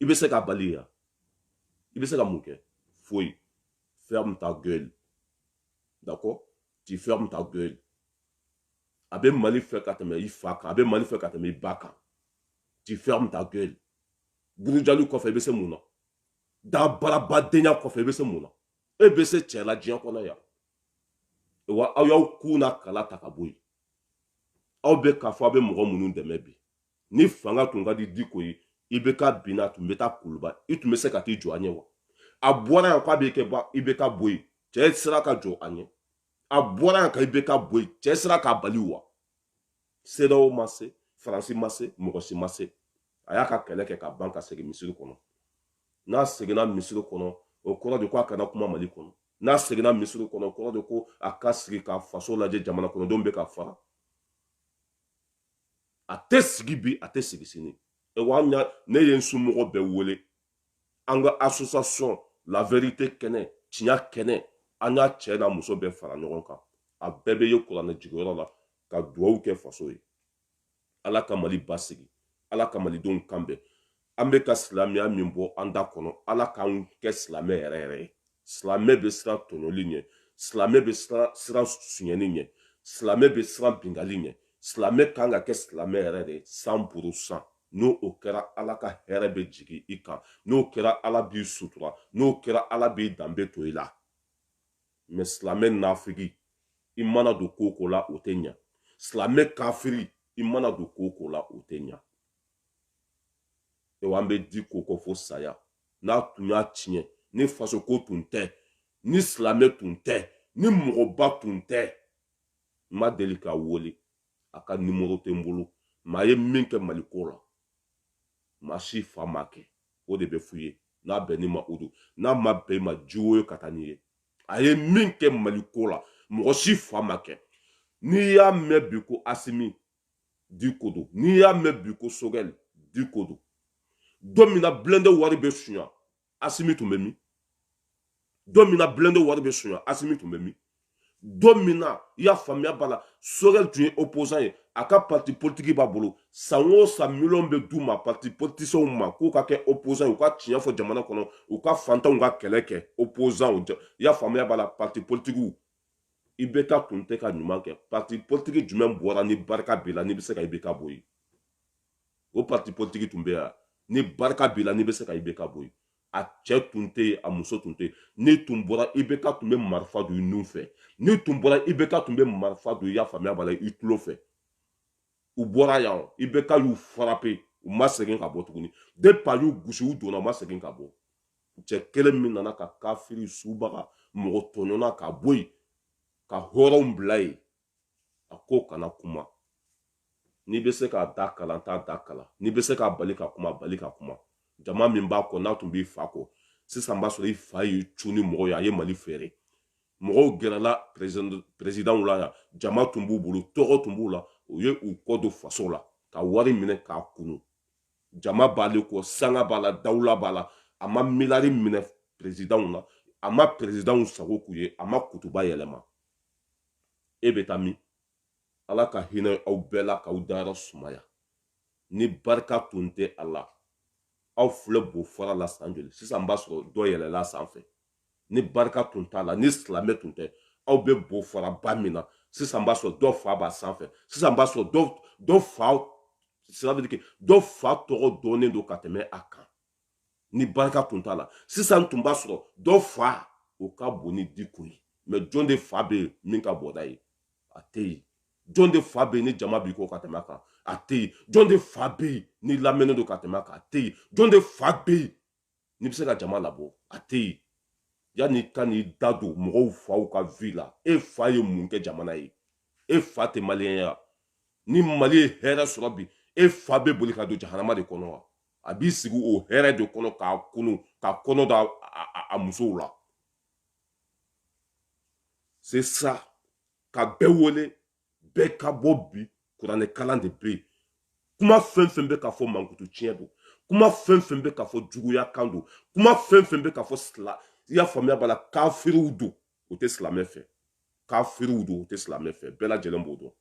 i bɛ se k'a bali yan i bɛ se ka mun kɛ foyi ferme ta gueule d'accord tu fermes ta gueule a bɛ mali fɛ ka tɛmɛ i fa kan a bɛ mali fɛ ka tɛmɛ i ba kan tu fermes ta gueule burujali kɔfɛ i bɛ se mun na dabarabadenya kɔfɛ i bɛ se mun na e bɛ se cɛ la diɲɛ kɔnɔ yan wa aw y'aw kun na kala ta ka bɔ yen aw bɛ k'a fɔ aw bɛ mɔgɔ minnu dɛmɛ bi ni fanga tun ka di diko ye IBK binna tun bɛ taa kuluba i tun bɛ se ka t'i jɔ a ɲɛ wa a bɔra yan k'a bɛ kɛ IBK bɔ yen cɛ sera ka jɔ a ɲɛ a bɔra yan ka IBK bɔ yen cɛ sera k'a bali wa CEDEAO ma se faransi ma se mɔgɔ si ma se a y'a ka kɛlɛ kɛ ka ban ka segin misiri kɔnɔ n'a seginna misiri kɔnɔ o kɔrɔ de ko a kana kuma mali kɔnɔ n'a seginna misiri kɔnɔ o kɔrɔ de ko a ka sigi ka faso lajɛ jamana kɔnɔdenw bɛ ka faga a tɛ sigi bi a tɛ sigi sini ewa ne ye n somɔgɔ bɛɛ wele an ka association la vérité kɛnɛ tiɲɛ kɛnɛ an y'a cɛ n'a muso bɛɛ fara ɲɔgɔn kan a bɛɛ bɛ yen kuranɛ jiginyɔrɔ la ka duwawu kɛ faso ye ala ka mali basigi ala ka malidenw kanbɛn an bɛ ka silamɛya min bɔ an da kɔnɔ ala k'an kɛ silamɛ yɛrɛ yɛrɛ ye silamɛ bɛ siran tɔɲɔli ɲɛ silamɛ bɛ siran sunyɛni ɲɛ silamɛ bɛ siran bingali ɲɛ silamɛ kan ka kɛ silamɛ yɛrɛ de cent pour cent n'o kɛra ala ka hɛrɛ bɛ jigin i kan n'o kɛra ala b'i sutura n'o kɛra ala b'i danbe to i la mais silamɛ nafigi i mana don ko o ko la o tɛ ɲa silamɛ kafiri i mana don ko o ko la o tɛ ɲa ewa an bɛ diko kɔ fo saya n'a tun y'a tiɲɛ ni fasoko tun tɛ ni silamɛ tun tɛ ni mɔgɔba tun tɛ n ma deli k'a wele a ka nimoro tɛ n bolo mais a ye min kɛ maliko la maa si fa m'a kɛ o de bɛ f'u ye n'a bɛnn'i ma o don n'a ma bɛn i ma ji woyo ka taa n'i ye a ye min kɛ maliko la mɔgɔ si fa m'a kɛ n'i y'a mɛn bi ko asimi diko don n'i y'a mɛn bi ko sogɛli diko don don min na blindé wari bɛ sunya asimi tun bɛ min don min na blindé wari bɛ sonya asimi tun bɛ min don min na i y'a faamuya b'a la sogɛli tun ye opposant ye a ka parti politiki b'a bolo san o san miliyɔn bɛ d'u ma parti politisiɛnw ma k'u ka kɛ opposant u ka tiɲɛ fɔ jamana kɔnɔ u ka fantanw ka kɛlɛ kɛ opposant i y'a faamuya b'a la parti politikiw IBK tun tɛ ka ɲuman kɛ parti politiki jumɛn bɔra ni barika b'i la n'i bɛ se ka IBK bɔ yen o parti politiki tun bɛ yan ni barika b'i la n'i bɛ se ka IBK bɔ yen a cɛ tun tɛ yen a muso tun tɛ yen n'i tun bɔra IBK tun bɛ marifa don i nun fɛ n'i tun bɔra IBK tun bɛ marifa don i y'a faamuya b'a la i tulo fɛ u bɔra yan IBK y'u frappé u ma segin ka bɔ tuguni depuis a y'u gosi u donna u ma segin ka bɔ cɛ kelen min nana ka kafiri subaga mɔgɔtɔɲɔna ka bɔ yen ka hɔrɔnw bila yen a ko kana kuma n'i bɛ se k'a da kalan t'a da kalan n'i bɛ se k'a bali ka kuma bali ka kuma jama min b'a kɔ n'a tun b'i fa kɔ sisan b'a sɔrɔ i fa y'i cun ni mɔgɔ ye a ye mali feere mɔgɔw gɛrɛla peresidanw la yan jama tun b'u bolo tɔgɔ tun b'u la u ye u kɔ don faso la ka wari minɛ k'a kunu jama b'ale kɔ sanga b'a la dawula b'a la a ma miliyari minɛ peresidanw na a ma peresidanw sago k'u ye a ma kutuba yɛlɛma e bɛ taa min ala ka hinɛ aw bɛɛ la k'aw dayɔrɔ sumaya ni barika tun tɛ a la aw filɛ bo fara la san joli sisan b'a sɔrɔ dɔ yɛlɛla sanfɛ ni barika tun t'a la ni silamɛ tun tɛ aw bɛ bo fara ba min na sisan b'a sɔrɔ dɔ fa b'a sanfɛ sisan b'a sɔrɔ dɔ fa sira bɛ dɔ fa tɔgɔ dɔnnen don ka tɛmɛ a kan ni barika tun t'a la sisan tun b'a sɔrɔ dɔ fa o ka bon ni diko ye mɛ jɔn de fa bɛ yen min ka bon n'a ye a tɛ yen jɔn de fa bɛ yen ni jama b'i kɔ ka tɛmɛ a kan a tɛ yen jɔn de fa bɛ yen ni lamɛnnen don ka tɛmɛ a kan a tɛ yen jɔn de fa bɛ yen n'i bɛ se ka jama labɔ a tɛ yen yanni i ka n'i da don mɔgɔw faw ka vie la e fa ye mun kɛ jamana ye e fa tɛ maliyɛn ya ni mali ye hɛrɛ sɔrɔ bi e fa bɛ boli ka don jahanama de kɔnɔ wa a b'i sigi o hɛrɛ de kɔnɔ k'a kunu ka kɔnɔ da a musow la c'est ça ka bɛɛ wele bɛɛ ka bɔ bi kuranɛ kalan de bɛ yen kuma fɛn fɛn bɛ ka fɔ mankutu tiɲɛ don kuma fɛn fɛn bɛ ka fɔ juguya kan don kuma fɛn fɛn bɛ ka fɔ sila i y'a faamuya b'a la kafiriw don o tɛ silamɛ fɛ kafiriw don o tɛ silamɛ fɛ bɛɛ lajɛlen b'o dɔn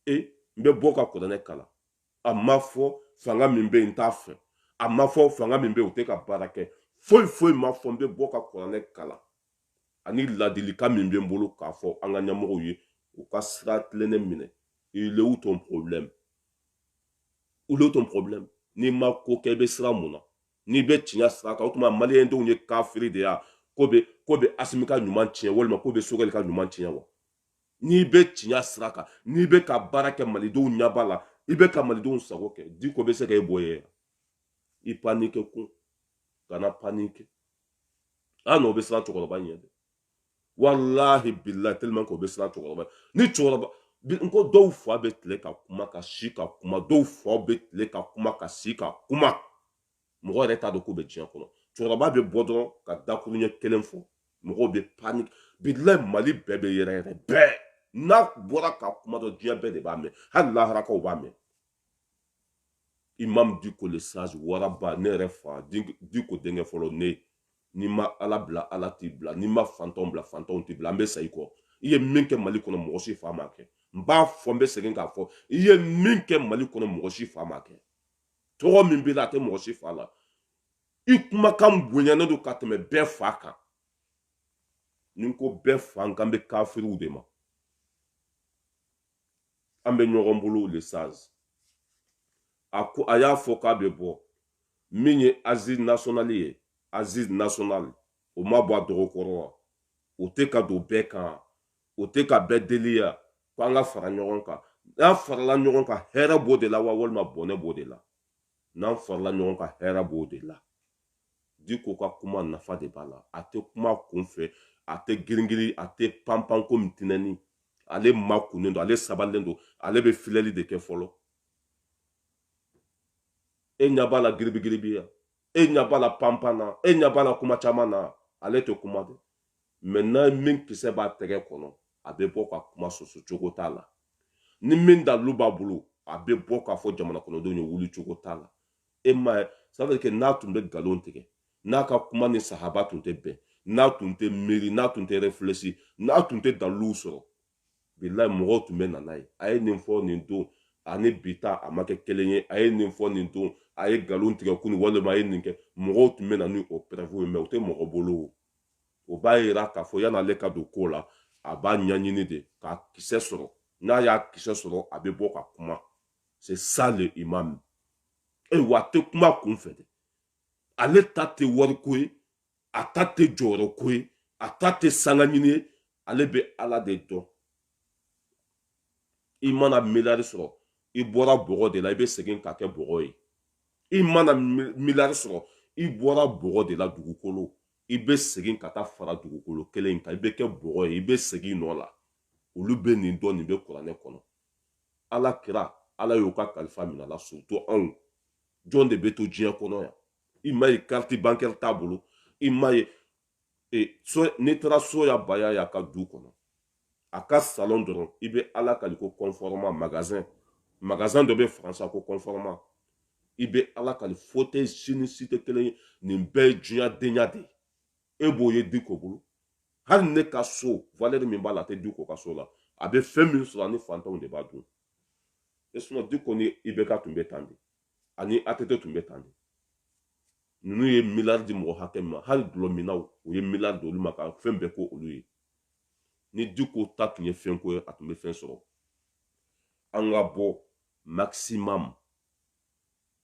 e n bɛ bɔ ka kuranɛ kalan a ma fɔ fanga min bɛ yen n t'a fɛ a ma fɔ fanga min bɛ yen o tɛ ka baara kɛ foyi foyi ma fɔ n bɛ bɔ ka kuranɛ kalan ani ladilikan min bɛ n bolo k'a fɔ an ka ɲɛmɔgɔw ye u ka sira tilennen minɛ il est où ton problème où est ton problème n'i ma ko kɛ i bɛ siran mun na n'i bɛ tiɲɛ sira kan o tuma maliyɛn denw ye kafiri de ya k'o bɛ k'o bɛ asimi ka ɲuman tiɲɛ walima k'o bɛ sogɛli ka ɲuman tiɲɛ wa n'i bɛ tiɲɛ sira kan n'i bɛ ka baara kɛ malidenw ɲɛba la i bɛ ka malidenw sago kɛ diko bɛ se ka e bɔ yen i panike kun kana panike an n'o bɛ siran cɛkɔrɔba ɲɛ dɛ walahi bilahi tellement k'o bɛ siran cɛkɔrɔba ni cɛkɔrɔba n ko dɔw fa bɛ tile ka kuma ka si ka kuma dɔw fa bɛ tile ka kuma ka si ka kuma mɔgɔ yɛrɛ t'a dɔn k'u bɛ diɲɛ kɔnɔ cɛkɔrɔba bɛ bɔ dɔrɔn ka dakuru ɲɛ kelen fɔ mɔgɔw bɛ panike bilayi mali bɛɛ bɛ yɛrɛyɛrɛ bɛɛ n'a bɔra ka kuma dɔ diɲɛ bɛɛ de b'a mɛn hali laharakaw b'a mɛn imam diko le sage waraba ne yɛrɛ fa diko denkɛ fɔlɔ ne n'i ma ala bila ala t'i bila n'i ma fantanw bila fantanw t'i bila an bɛ sa i kɔ i ye min kɛ mali kɔnɔ mɔgɔ si fa m'a kɛ n b'a fɔ n bɛ segin k'a fɔ i ye min kɛ mali kɔnɔ mɔgɔ si fa m'a kɛ tɔgɔ min b'i la a tɛ mɔgɔ si fa la i kumakan bonyanen don ka tɛmɛ bɛɛ fa kan ni n ko bɛɛ fa n kan bɛ kafiriw de ma an bɛ ɲɔgɔn bolo le sage a y'a fɔ k'a bɛ bɔ min ye assises nationales ye assises nationales o ma bɔ a dɔgɔ kɔrɔ wa o tɛ ka don bɛɛ kan o tɛ ka bɛɛ deli ya ko an ka fara ɲɔgɔn kan n'an farala ɲɔgɔn kan hɛrɛ b'o de la wa walima bɔnɛ b'o de la n'an farala ɲɔgɔn kan hɛrɛ b'o de la diko ka kuma nafa de b'a la a tɛ kuma kunfɛ a tɛ giringirin a tɛ panpan komi tinɛni ale makunnen don ale sabalilen don ale bɛ filɛli de kɛ fɔlɔ e ɲa b'a la giribigiribiya e ɲa b'a la panpan na e ɲa b'a la kuma caman na ale tɛ kuma dɛ maintenant min kisɛ b'a tɛgɛ kɔnɔ a bɛ bɔ ka kuma soso cogo t'a la ni min dalu b'a bolo a bɛ bɔ k'a fɔ jamana kɔnɔdenw ye wuli cogo t'a la e m'a ye ça fait que n'a tun bɛ nkalon tigɛ n'a ka kuma ni sahaba tun tɛ bɛn n'a tun tɛ miiri n'a tun tɛ réfléchi n'a tun tɛ daliluw sɔrɔ bilayi mɔgɔw tun bɛ na n'a ye a ye nin fɔ nin don ani bi ta a ma kɛ kelen ye a ye nin fɔ nin don a ye nkalon tigɛ kunu walima a ye nin kɛ mɔgɔw tun bɛ na ni o preuve ye mais o tɛ mɔgɔ bolo o o b'a yira k'a fɔ yan'ale ka don ko la a b'a ɲɛɲini de k'a kisɛ sɔrɔ n'a y'a kisɛ sɔrɔ a bɛ bɔ ka kuma c'est ça le imam ayiwa a tɛ kuma kunfɛ dɛ ale ta tɛ wariko ye a ta tɛ jɔyɔrɔko ye a ta tɛ sangaɲini ye ale bɛ ala de dɔn i mana miliyari sɔrɔ i bɔra bɔgɔ de la i bɛ segin ka kɛ bɔgɔ ye i mana miliyari sɔrɔ i bɔra bɔgɔ de la dugukolo i bɛ segin ka taa fara dugukolo kelen in kan i bɛ kɛ bɔgɔ ye i bɛ segin nɔ la olu bɛ nin dɔn nin bɛ kuranɛ kɔnɔ ala kira ala y'o ka kalifa minɛ a la surtout anw jɔn de bɛ to diɲɛ kɔnɔ yan i m'a ye carte bancaire t'a bolo i m'a ye e so n'i taara suwala bayaya ka du kɔnɔ a ka salon dɔrɔn i bɛ ala kali ko conforama magasin magasin dɔ bɛ faransa ko conforama i bɛ ala kali fauteuil si ni si tɛ kelen ye nin bɛɛ ye diɲɛ denya de ye e b'o ye diko bolo hali ne ka so valeur min b'a la a tɛ diko ka so la a bɛ fɛn min sɔrɔ a ni fantanw de b'a dun e sinon diko ni IBK tun bɛ tan de ani ATT tun bɛ tan de ninnu ye miliyari di mɔgɔ hakɛ min ma hali dɔlɔminnaw u ye miliyari di olu ma ka fɛn bɛɛ k'olu ye ni diko ta tun ye fɛnko ye a tun bɛ fɛn sɔrɔ an ka bɔ maximum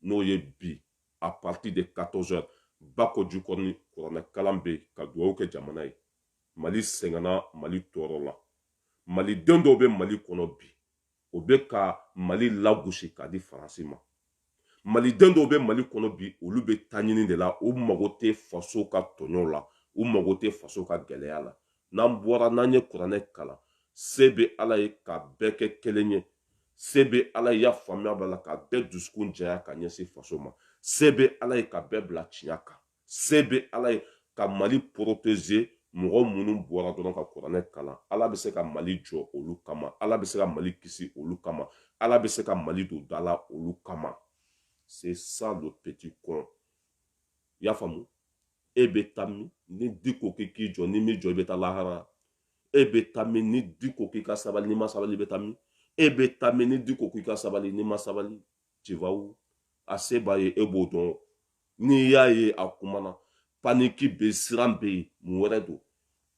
n'o ye bi à partir de 14 heures bako jikɔrɔni kuranɛ kalan bɛ yen ka dugawu kɛ jamana ye mali sɛgɛnna mali tɔɔrɔla maliden dɔw bɛ mali kɔnɔ bi o bɛ ka mali lagosi k'a di faransi ma maliden dɔw bɛ mali kɔnɔ bi olu bɛ ta ɲini de la u mago tɛ faso ka tɔɲɔw la u mago tɛ faso ka gɛlɛya la n'an bɔra n'an ye kuranɛ kalan se bɛ ala ye ka bɛɛ kɛ kelen ye se bɛ ala ye a faamuya b'a la ka bɛɛ dusukun jɛya ka ɲɛsin faso ma se bɛ ala ye ka bɛɛ bila tiɲɛ kan se bɛ ala ye ka mali protéger mɔgɔ minnu bɔra dɔrɔn ka kuranɛ kalan ala bɛ se ka mali jɔ olu kama ala bɛ se ka mali kisi olu kama ala bɛ se ka mali don da la olu kama c'est ça le petit con i y'a faamu e bɛ taa min ni diko k'i k'i jɔ n'i m'i jɔ i bɛ taa lahara e bɛ taa min ni diko k'i ka sabali n'i ma sabali i bɛ taa min e bɛ taa min ni diko k'i ka sabali n'i ma sabali tu vas où a se b'a ye e b'o dɔn n'i y'a ye a kumana panique bɛ siran bɛ yen mun wɛrɛ don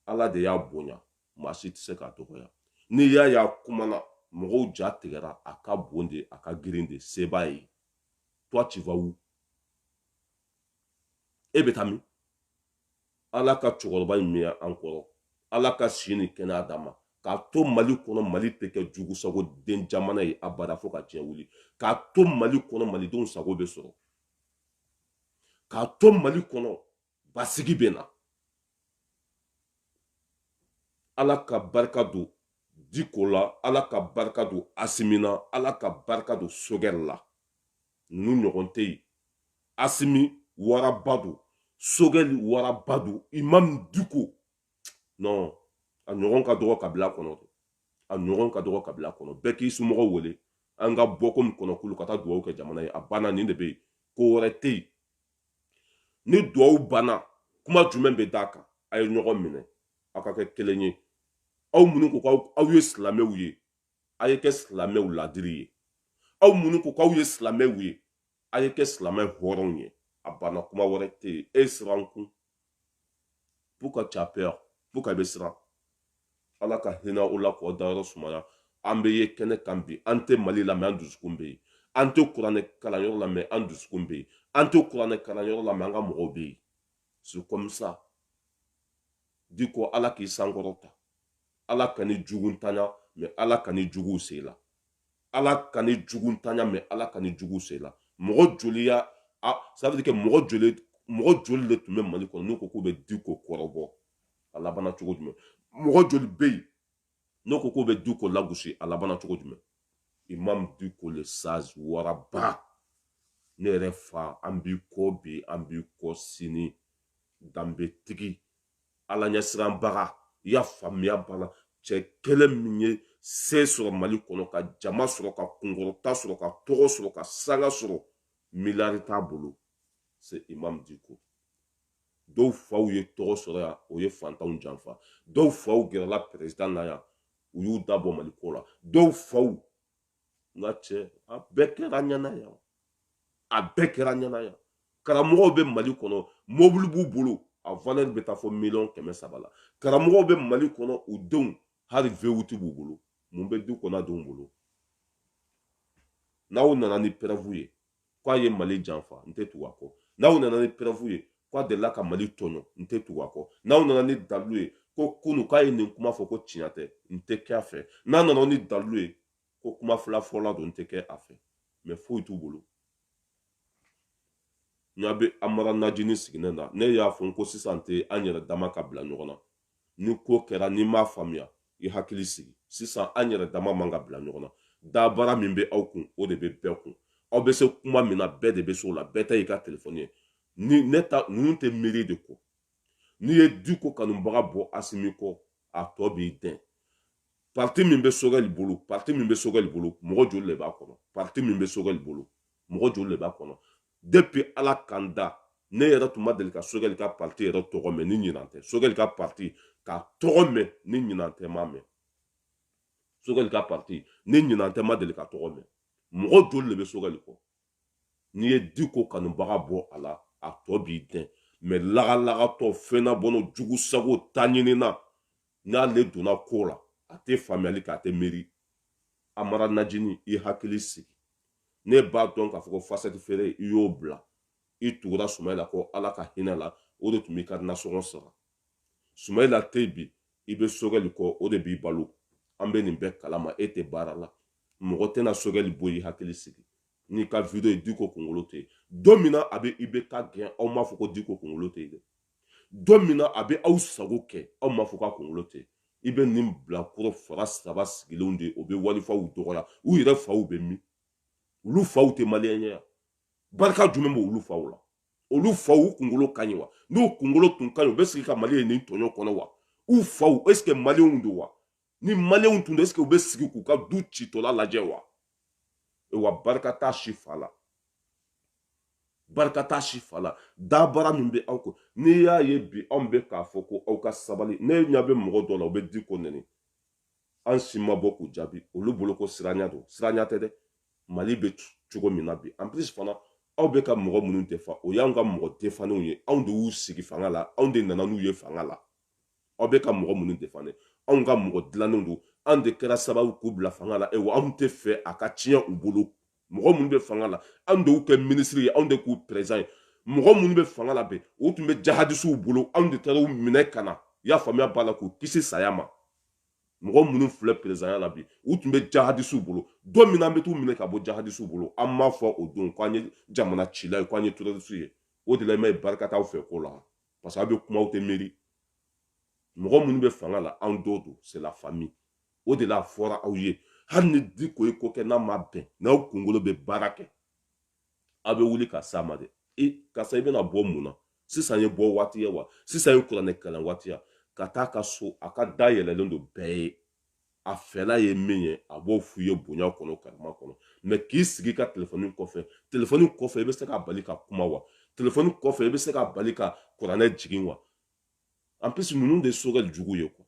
ala de y'a bonya maa si tɛ se k'a dɔgɔya n'i y'a ye a kumana mɔgɔw ja tigɛra a ka bon de a ka girin de se b'a ye toi tu vas où e bɛ taa min ala ka cɛkɔrɔba in mɛɛn an kɔrɔ ala ka si ni kɛnɛya d'a ma k'a to mali kɔnɔ mali tɛ kɛ jugu sago den jamana ye abada fo ka diɲɛ wuli k'a to mali kɔnɔ malidenw sago bɛ sɔrɔ k'a to mali kɔnɔ basigi bɛ na ala ka barika don diko la ala ka barika don asimi na ala ka barika don sogɛli la ninnu ɲɔgɔn tɛ yen asimi waraba don sogɛli waraba don imam diko non a ɲɔgɔn ka dɔgɔ kabila kɔnɔ a ɲɔgɔn ka dɔgɔ kabila kɔnɔ bɛɛ k'i somɔgɔw wele an ka bɔ komi kɔnɔkulu ka taa dugawu kɛ jamana ye a banna nin de bɛ yen ko wɛrɛ tɛ yen ni dugawu banna kuma jumɛn bɛ d'a kan a ye ɲɔgɔn minɛ aw ka kɛ kelen ye aw minnu ko k'aw aw ye silamɛw ye a ye kɛ silamɛw ladiri ye aw minnu ko k'aw ye silamɛw ye a ye kɛ silamɛ hɔrɔnw ye a banna kuma wɛrɛ tɛ yen e siran kun pourquoi tu as peur pourquoi i bɛ siran ala ka hinɛ o la k'o dayɔrɔ sumaya an bɛ ye kɛnɛ kan bi an tɛ mali la mɛ an dusukun bɛ yen an tɛ kuranɛ kalanyɔrɔ la mɛ an dusukun bɛ yen an tɛ kuranɛ kalanyɔrɔ la mɛ an ka mɔgɔw bɛ yen c'est comme ça diko ala k'i sankɔrɔ ta ala kan'i juguntanya mɛ ala kan'i juguw se i la ala kan'i juguntanya mɛ ala kan'i juguw se i la mɔgɔ joli y'a ça veut dire que mɔgɔ joli mɔgɔ joli de tun bɛ mali kɔnɔ n'u ko k'u bɛ diko kɔrɔbɔ a labanna cogo jumɛn mɔgɔ joli bɛ yen n'u ko k'u bɛ diko lagosi a labanna cogo jumɛn imam diko le sage waraba ne yɛrɛ fa an b'i kɔ bi an b'i kɔ sini danbetigi ala ɲɛsiranbaga i y'a faamuya banna cɛ kelen min ye se sɔrɔ mali kɔnɔ ka jama sɔrɔ ka kunkɔrɔta sɔrɔ ka tɔgɔ sɔrɔ ka sanga sɔrɔ miliyari t'a bolo c'est imam diko dɔw faw ye tɔgɔ sɔrɔ yan o ye fantanw janfa dɔw faw gɛrɛla président na yan u y'u da bɔ mali ko la dɔw faw nka cɛ a bɛɛ kɛra ɲɛna yan a bɛɛ kɛra ɲɛna yan karamɔgɔw bɛ mali kɔnɔ mobili b'u bolo a valeur bɛ taa fɔ miliyɔn kɛmɛ saba la karamɔgɔw bɛ mali kɔnɔ u denw hali vewuti b'u bolo mun bɛ diko n'a denw bolo n'aw nana ni preuve ye k'a ye mali janfa n tɛ tugu a kɔ n'aw nana ni preuve ye k'a delila ka mali tɔɲɔ n tɛ tugu a kɔ n'aw nana ni dalilu ye ko kunu k'a ye nin kuma fɔ ko tiɲɛ tɛ n tɛ kɛ a fɛ n'a nana ni dalilu ye ko kuma fila fɔla don n tɛ kɛ a fɛ mɛ foyi t'u bolo n'a bɛ amara najini sigilen na ne y'a fɔ n ko sisan tɛ an yɛrɛ dama ka bila ɲɔgɔn na ni ko kɛra n'i m'a faamuya i hakili sigi sisan an yɛrɛ dama man ka bila ɲɔgɔn na dabara min bɛ aw kun o de bɛ bɛɛ kun aw bɛ se kuma min na bɛɛ de bɛ se o la bɛɛ ta y'i ka telefɔni ye ni ne ta ninnu tɛ miiri de ko n'i ye diko kanubaga bɔ asimi kɔ a tɔ b'i dɛn parti min bɛ sogɛli bolo parti min bɛ sogɛli bolo mɔgɔ joli de b'a kɔnɔ parti min bɛ sogɛli bolo mɔgɔ joli de b'a kɔnɔ depuis ala ka n da ne yɛrɛ tun ma deli ka sogɛli ka parti yɛrɛ tɔgɔ mɛn ni ɲinan tɛ sogɛli ka parti k'a tɔgɔ mɛn ni ɲinan tɛ m'a mɛn sogɛli ka parti ni ɲinan tɛ ma deli k'a tɔgɔ mɛn mɔgɔ joli le bɛ sogɛli kɔ n'i ye diko kanubaga bɔ a la a tɔ b'i dɛn mɛ lagalagatɔ fɛnna bɔnɔ jugu sago ta ɲinina n'ale donna ko la a tɛ faamuyali kɛ a tɛ miiri amara najini i hakili sigi ne b'a dɔn k'a fɔ ko fasɛti feere i y'o bila i tugura sumayila kɔ ala ka hinɛ la o de tun b'i ka nasɔngɔ sara sumayila tɛ bi i bɛ sogɛli kɔ o de b'i balo an bɛ nin bɛɛ kalama e tɛ baara la mɔgɔ tɛna sogɛli bɔ i hakili sigi n'i ka video ye diko kunkolo tɛ yen don min na a bɛ ibk gɛn aw m'a fɔ ko diko kunkolo tɛ yen dɛ don min na a bɛ aw sago kɛ aw m'a fɔ k'a kunkolo tɛ i bɛ nin bilakoro fara saba sigilenw de o bɛ walifaw dɔgɔya u yɛrɛ faw bɛ min olu faw tɛ maliyɛn ye barika jumɛn b'olu faw la olu faw u kunkolo ka ɲi wa n'u kunkolo tun ka ɲi u bɛ sigi ka mali ye nin tɔɲɔ kɔnɔ wa u faw est ce que maliyɛnw don wa ni maliyɛnw tun don est ce que u bɛ sigi k'u ka du citɔla lajɛ wa e wa barika t'a si fa la barika t'a si fa la dabara min bɛ aw ko n'i y'a ye bi anw bɛ k'a fɔ ko aw ka sabali ne ɲɛ bɛ mɔgɔ dɔ la u bɛ diko nɛni an si ma bɔ k'u jaabi olu bolo ko siranya don siranya tɛ dɛ mali bɛ cogo min na bi en plus fana aw bɛ ka mɔgɔ minnu defan o y'anw ka mɔgɔ defannenw ye anw de y'u sigi fanga la anw de nana n'u ye fanga la aw bɛ ka mɔgɔ minnu defan anw ka mɔgɔ dilannenw don an de kɛra sababu k'u bila fanga la ewa anw tɛ fɛ a ka tiɲɛ u bolo mɔgɔ minnu bɛ fanga la anw de y'u kɛ minisiri ye anw de k'u perezidan ye mɔgɔ minnu bɛ fanga la bi u tun bɛ jahadisiw bolo anw de taara u minɛ ka na i y'a faamuya b'a la k'u kisi saya ma mɔgɔ minnu filɛ perezidanya la bi u tun bɛ jahadisiw bolo don min an bɛ t'u minɛ ka bɔ jahadisiw bolo aw m'a fɔ o don k'an ye jamana cila ye k'an ye terɔrisiw ye o de la i m'a ye barika t'aw fɛ ko la parce que aw bɛ kuma aw tɛ miiri mɔgɔ minnu bɛ fanga la anw dɔw don c'est la famille o de la a fɔra aw ye hali ni diko ye ko kɛ n'a ma bɛn n'aw kunkolo bɛ baara kɛ aw bɛ wuli ka s'a ma dɛ e karisa i bɛna bɔ mun na sisan ye bɔ waati ye wa sisan ye kuranɛ kalan waati ye a ka taa a ka so a ka da yɛlɛlen don bɛɛ ye a fɛla ye min ye a b'o f'u ye bonya kɔnɔ karama kɔnɔ mais k'i sigi i ka telefɔni kɔfɛ telefɔni kɔfɛ i bɛ se k'a bali ka kuma wa telefɔni kɔfɛ i bɛ se k'a bali ka kuranɛ jigin wa en plus ninnu de sogɛli jugu ye quoi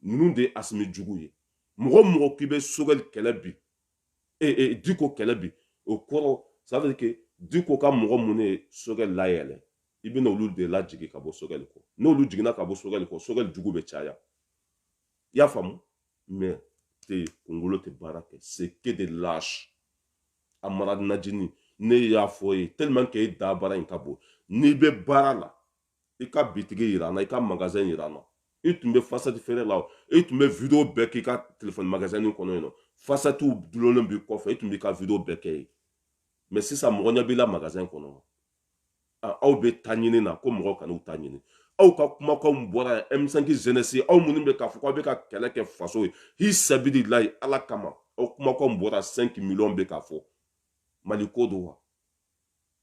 ninnu de asimi jugu ye mɔgɔ mɔgɔ k'i bɛ sogɛli kɛlɛ bi e e diko kɛlɛ bi o kɔrɔ ça veut dire que diko ka mɔgɔ minnu ye sogɛli layɛlɛ i bɛna olu de lajigin ka bɔ sogɛli kɔ n'olu jiginna ka bɔ sogɛli kɔ sogɛli jugu bɛ caya i y'a faamu mais kunkolo tɛ baara kɛ c'est que des lâches amara najini ne y'a fɔ i ye tellement que e da baara in ka bon n'i bɛ baara la i ka bitigi yira n na i ka magasin yira n na i tun bɛ fasati feere la o i tun bɛ video bɛɛ k'i ka telefɔni magasin in kɔnɔ yen nɔ fasatiw dulonnen b'i kɔfɛ i tun b'i ka video bɛɛ kɛ yen mais sisan mɔgɔ ɲɛ b'i la magasin kɔnɔ aw bɛ ta ɲini na ko mɔgɔ kan'u ta ɲini aw ka kumakanw bɔra yan M5 jeunesse aw minnu bɛ k'a fɔ aw bɛ ka kɛlɛ kɛ faso ye fi sabililayi ala kama aw kumakanw bɔra 5 miliyɔn bɛ k'a fɔ mali ko don wa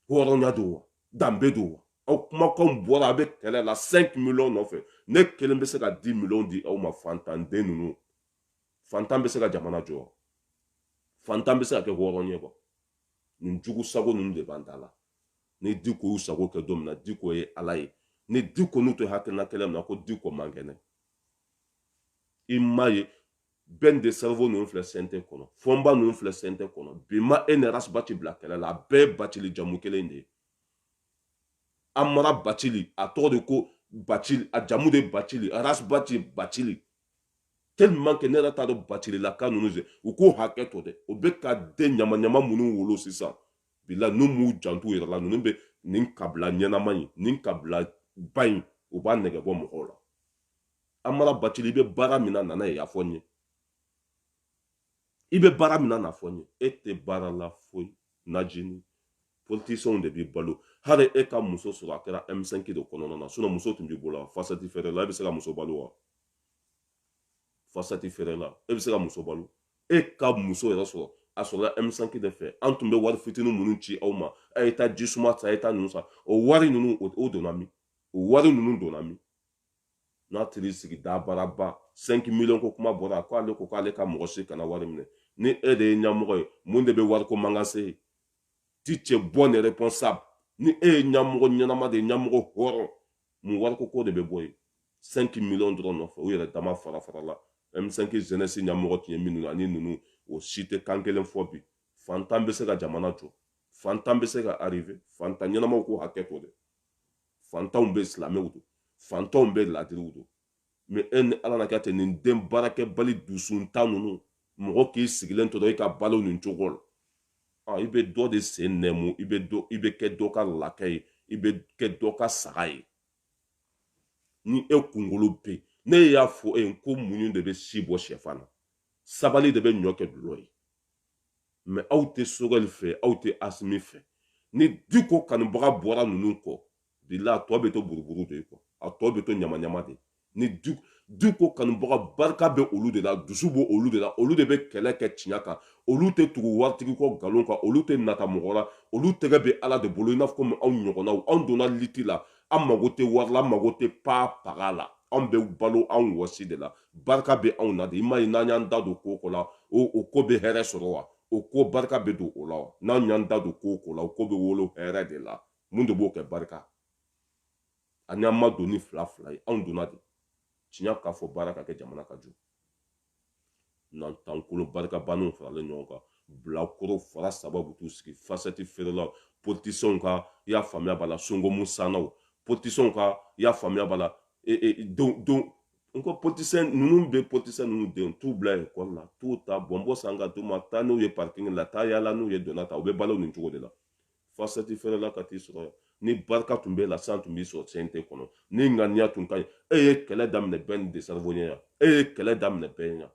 hɔrɔnya don wa danbe don wa aw kumakanw bɔra a bɛ kɛlɛ la 5 miliyɔn nɔfɛ ne kelen bɛ se ka 10 miliyɔn di aw ma fantanden ninnu fantan bɛ se ka jamana jɔ fantan bɛ se ka kɛ hɔrɔn ye quoi nin jugu sago ninnu de b'an ta la ni diko y'u sago kɛ don min na diko ye ala ye ni diko n'u tɛ hakilina kelen min na ko diko man kɛnɛ i m'a ye bɛn de cerveau ninnu filɛ CNT kɔnɔ fɔnba ninnu filɛ CNT kɔnɔ bi ma e ni ras bati bila kɛlɛ la a bɛɛ ye batili jamu kelen de ye amara bacili a tɔgɔ de ko bacili a jamu de bacili ras baci bacili tellement que ne yɛrɛ t'a dɔn bacililaka ninnu fɛ u k'u hakɛ to dɛ u bɛ ka den ɲamaɲama minnu wolo sisan bi la n'u m'u jant'u yɛrɛ la ninnu bɛ nin kabila ɲɛnama in nin kabila ba in u b'a nɛgɛ bɔ mɔgɔw la amara bacili i bɛ baara min na nana ye y'a fɔ n ye i bɛ baara min na n'a fɔ n ye e tɛ baara la foyi najini politiciens de b'i balo hali e ka muso sɔrɔ a kɛra M5 de kɔnɔna na sinon muso tun b'i bolo fasati feere la e bɛ se ka muso balo wa fasati feere la e bɛ se ka muso balo e ka muso yɛrɛ sɔrɔ a sɔrɔla M5 de fɛ an tun bɛ wari fitinin minnu ci aw ma a ye taa ji suma ta a ye taa ninnu san o wari ninnu o donna min o wari ninnu donna min n'a tiri sigi dabaraba 5 miliyɔn ko kuma bɔra a ko ale ko k'ale ka mɔgɔ si kana wari minɛ ni e de ye ɲamɔgɔ ye mun de bɛ wariko mankan se ye tu es bon et responsable ni e ye ɲamɔgɔ ɲɛnama de ye ɲamɔgɔ hɔrɔn mun wariko ko de bɛ bɔ yen 5 miliyɔn dɔrɔn nɔfɛ u yɛrɛ dama fara farala m5 jeunesse ɲamɔgɔ tun ye minnu ani ninnu o si tɛ kan kelen fɔ bi fantan bɛ se ka jamana jɔ fantan bɛ se ka arriver fantan ɲɛnamaw k'u hakɛ to dɛ fantanw bɛ silamɛw don fantanw bɛ ladiriw don mais e ni ala na kɛ ten nin den baarakɛbali dusuntan ninnu mɔgɔ k'i sigilen to dɔrɔn i ka balo nin cogo la ah, i bɛ dɔ de sen nɛmu i bɛ dɔ i bɛ kɛ dɔ ka lakɛ ye i bɛ kɛ dɔ ka saga ye ni e kunkolo bɛ ne y'a fɔ e ye ko muɲu de bɛ si bɔ sɛfan na sabali de bɛ ɲɔ kɛ dulɔ ye mais aw tɛ sogɛli fɛ aw tɛ asimi fɛ ni diko kanubaga bɔra ninnu kɔ bila a tɔ bɛ to buruburu de quoi a tɔ bɛ to ɲamaɲama de ni diko kanubaga barika bɛ olu de la dusu bɛ olu de la olu de bɛ kɛlɛ kɛ tiɲɛ kan olu tɛ tugu waritigi kɔ nkalon kan olu tɛ nata mɔgɔ la olu tɛgɛ bɛ ala de bolo i n'a fɔ komi anw ɲɔgɔnnaw anw donna liti la an mago tɛ wari la an mago tɛ pa paga la anw bɛ balo anw wɔsi de la barika bɛ anw na de i ma ye n'an y'an da don ko ko la o o ko bɛ hɛrɛ sɔrɔ wa o ko barika bɛ don o la wa n'an y'an da don ko ko la o ko bɛ wolo hɛrɛ de la mun de b'o kɛ barika ani an ma don ni fila fila ye anw donna de tiɲɛ k'a fɔ baara ka kɛ jamana ka jɔ nantankolon barika banniw faralen ɲɔgɔn kan bilakoro fara saba bɛ t'u sigi fasɛti feerelaw politisiyɛnw ka i y'a faamuya b'a la songomu sannaw politisiyɛnw ka i y'a faamuya b'a la e, e, don don n ko politisiyɛn ninnu bɛ politisiyɛn ninnu denw t'u bila ekɔli la t'u ta bɔnbɔ san ka d'u ma taa n'u ye parking la taa yaala n'u ye donna ta u bɛ balo nin cogo de la fasɛti feerela ka t'i sɔrɔ yan ni barika tun b'e la san tun b'i sɔrɔ cnt kɔnɔ ni ŋaniya tun ka ɲi e ye kɛlɛ daminɛ ben le cerveau ɲɛ yan e ye kɛlɛ daminɛ bɛɛ yan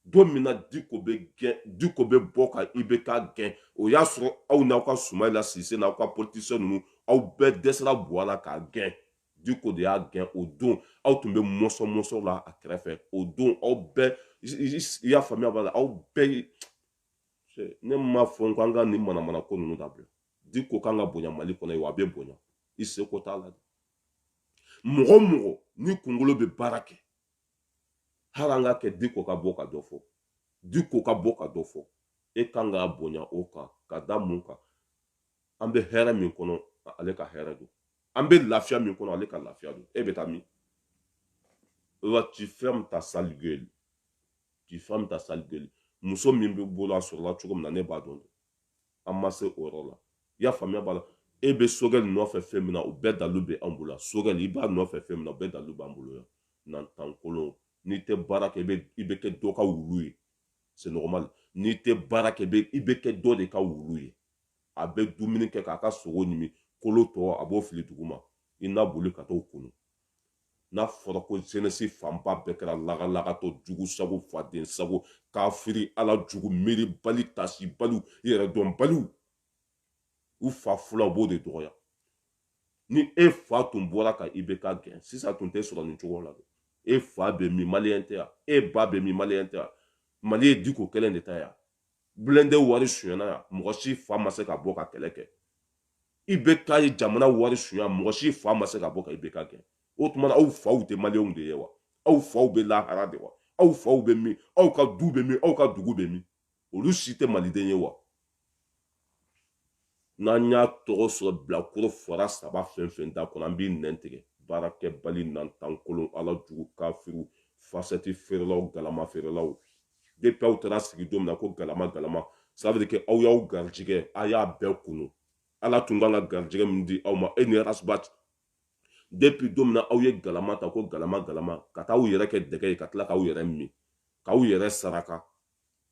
don min na diko bɛ bɔ ka ibk gɛn o y'a sɔrɔ aw n'aw ka sumayila sise n'aw ka politisiyɛn ninnu aw bɛɛ dɛsɛra buwa la k'a gɛn diko de y'a gɛn o don aw tun bɛ mɔsɔn mɔsɔn la a kɛrɛfɛ o don aw bɛɛ i y'a faamuya b'a la aw bɛɛ ne ma fɔ n ko an ka nin manamana ko ninnu dabila diko kan ka bonya mali kɔnɔ ye wa a bɛ bonya i seko t'a la mɔgɔ mɔgɔ ni kunkolo bɛ baara kɛ hali an ka kɛ diko ka bɔ ka dɔ fɔ diko ka bɔ ka dɔ fɔ e kan k'a bonya o kan ka da mun kan an bɛ hɛrɛ min kɔnɔ ale ka hɛrɛ don an bɛ lafiya min kɔnɔ ale ka lafiya don e bɛ taa min wa tu fermes ta sale gueule tu fermes ta sale gueule muso min b'e bolo a sɔrɔla cogo min na ne b'a dɔn an ma se o yɔrɔ la i y'a faamuya b'a la e bɛ sogɛli nɔfɛ fɛn min na o bɛɛ dalu bɛ an bolo sogɛli i b'a nɔfɛ fɛn min na o bɛɛ dalu b'an bolo yan nantankolon n'i tɛ baara kɛ i bɛ kɛ dɔ ka wulu ye c'est normal n'i tɛ baara kɛ i bɛ kɛ dɔ de ka wulu ye a bɛ dumuni kɛ k'a ka sogo ɲimi kolo tɔ a b'o fili duguma i na boli ka t'o kunu n'a fɔra ko jeunesse fanba bɛɛ kɛra lagalagatɔ jugu sago faden sago kafiri ala jugu miiribali tasibaliw yɛrɛdɔnbaliw u fa fulan u b'o de dɔgɔya ni e fa tun bɔra ka ibk gɛn sisan tun tɛ sɔrɔ nin cogo la dɛ e fa bɛ min maliyɛn tɛ yan e ba bɛ min maliyɛn tɛ yan mali ye diko kelen de ta yan blindé wari sonyana yan mɔgɔ si fa ma se ka bɔ ka kɛlɛ kɛ ibk ye jamana wari sonya mɔgɔ si fa ma se ka bɔ ka ibk gɛn o tuma na aw faw tɛ maliyɛnw de ye wa aw faw bɛ lahara de wa aw faw bɛ min aw ka du bɛ min aw ka dugu bɛ min olu si tɛ maliden ye wa n'an y'a tɔgɔ sɔrɔ bilakoro fara saba fɛn fɛn da kɔnɔ an b'i nɛn tigɛ baarakɛbali nantankolon ala jugu kafiriw fasɛti feerelaw galama feerelaw depuis aw taara sigi don min na ko galama galama ça veut dire que aw y'aw garijigɛ a y'a bɛɛ kunu ala tun kan ka garijigɛ min di aw ma e ni ras bath depuis don min na aw ye galama ta ko galama galama ka taa aw yɛrɛ kɛ dɛgɛ ye ka tila k'aw yɛrɛ min k'aw yɛrɛ saraka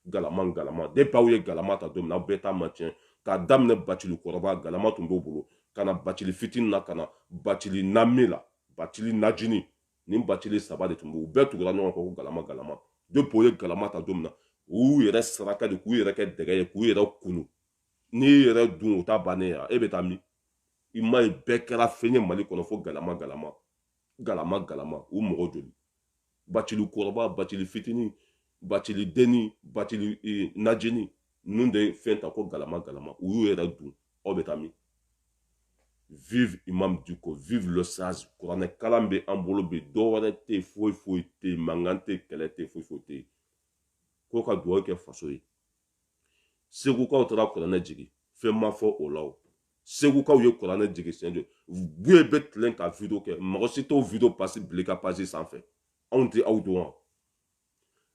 galama galama depuis aw ye galama ta don min na aw bɛɛ ta ma tiɲɛ k'a daminɛ bacili kɔrɔba galama tun b'o bolo ka na bacili fitini na ka na bacili nami la bacili najini ni bacili saba de tun b'u bɛɛ tugura ɲɔgɔn kɔ ko galama galama depuis o ye galama ta don min na u yɛrɛ saraka de k'u yɛrɛ kɛ dɛgɛ ye k'u yɛrɛ kunu n'i yɛrɛ dun o ta bannen ya e bɛ taa min i m'a ye bɛɛ kɛra fɛn ye mali kɔnɔ fo galama galama galama galama u mɔgɔ joli bacili kɔrɔba bacili fitini bacili deni bacili e, najini ninnu de fɛn ta ko galama galama u y'u yɛrɛ dun aw bɛ taa min vive imam diko vive le sage kuranɛ kalan bɛ an bolo bi dɔ wɛrɛ tɛ yen foyi foyi tɛ yen mankan tɛ kɛlɛ tɛ foyi foyi tɛ yen ko ka dugawu kɛ faso ye segukaw taara kuranɛ jigin fɛn ma fɔ o la o segukaw ye kuranɛ jigin siɲɛ joli buye bɛ tilen ka video kɛ mɔgɔ si t'o video page bila i ka page sanfɛ anw tɛ aw dɔn wa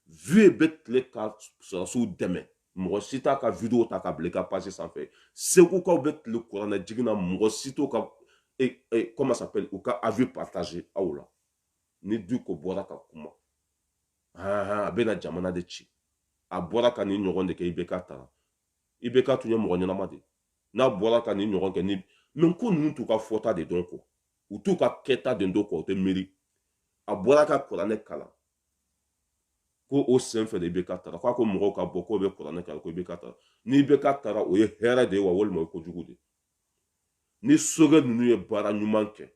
vieux bɛ tile ka sɔrɔdasiw dɛmɛ mɔgɔ si t'a ka video ta ka bila i ka page sanfɛ segukaw bɛ tile kuranɛ jigin na mɔgɔ si t'o ka e, e, comment s'appelle u ka avis partager aw la ni diko bɔra ka kuma a bɛna jamana de ci a bɔra ka nin ɲɔgɔn de kɛ ibk taara ibk tun ye mɔgɔ ɲɛnama de n'a bɔra ka nin ɲɔgɔn kɛ ni mais ko ninnu t'u ka fɔta de dɔn kɔ u t'u ka kɛta de dɔn kɔ u tɛ miiri a bɔra ka kuranɛ kalan ko o sen fɛ de ibk taara k'a ko mɔgɔw ka bɔ k'o bɛ kuranɛ kalan ko ibk taara ni ibk taara o ye hɛrɛ de ye wa walima o ye kojugu de ye ni sogɛli ninnu ye baara ɲuman kɛ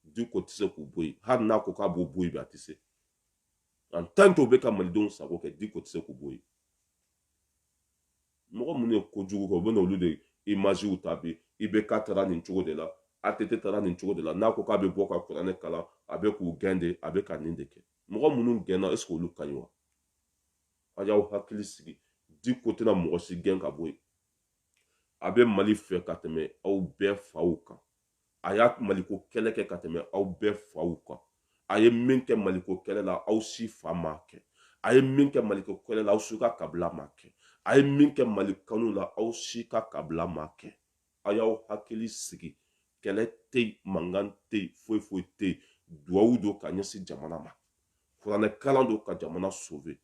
diko tɛ se k'u bɔ yen hali n'a ko k'a b'u bɔ yen bi a tɛ se en tant que o bɛ ka malidenw sago kɛ diko tɛ se k'u bɔ yen mɔgɔ minnu ye kojugu kɛ u bɛ n'olu de imaziw ta bi ibk taara nin cogo de la att taara nin cogo de la n'a ko k'a bɛ bɔ ka kuranɛ kalan a bɛ k'u gɛn de a bɛ ka nin de kɛ mɔgɔ minnu gɛnna est ce que olu ka ɲi wa a y'aw hakili sigi diko tɛna mɔgɔ si gɛn ka bɔ yen a bɛ mali fɛ ka tɛmɛ aw bɛɛ faw kan a y'a maliko kɛlɛ kɛ ka tɛmɛ aw bɛɛ faw kan a ye min kɛ maliko kɛlɛ la aw si fa m'a kɛ a ye min kɛ maliko kɛlɛ la aw si ka kabila m'a kɛ a ye min kɛ mali kanu la aw si ka kabila m'a kɛ a y'aw hakili sigi kɛlɛ tɛ yen mankan tɛ yen foyi foyi tɛ yen duwawu don ka ɲɛsin jamana ma kuranɛkalan don ka jamana sauver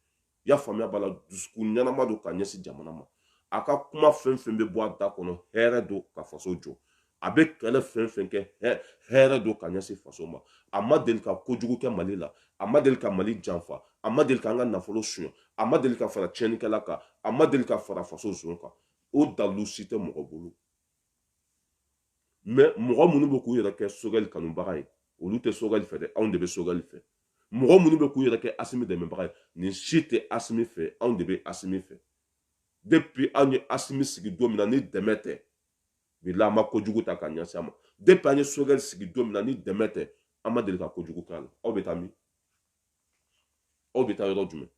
i y'a faamuya b'a la dusukun ɲɛnama don ka ɲɛsin jamana ma a ka kuma fɛn fɛn bɛ bɔ a da kɔnɔ hɛrɛ don ka faso jɔ a bɛ kɛlɛ fɛn fɛn kɛ hɛrɛ don ka ɲɛsin faso ma a ma deli ka kojugu kɛ mali la a ma deli ka mali janfa a ma deli ka an ka nafolo suɲɛ a ma deli ka fara tiɲɛnikɛla kan a ma deli ka fara faso zon kan o dalilu si tɛ mɔgɔ bolo mais mɔgɔ minnu bɛ k'u yɛrɛ kɛ sogɛli kanubaga ye olu tɛ sogɛli fɛ dɛ anw de bɛ sogɛli fɛ mɔgɔ minnu bɛ k'u yɛrɛ kɛ asimi dɛmɛbaga ye nin si tɛ asimi fɛ anw de bɛ asimi fɛ depuis anw ye asimi sigi don min na ni dɛmɛ tɛ bilahi an ma kojugu ta ka ɲɛsin a ma depuis an ye sogɛli sigi don min na ni dɛmɛ tɛ an ma deli ka kojugu k'a la aw bɛ taa min aw bɛ taa yɔrɔ jumɛn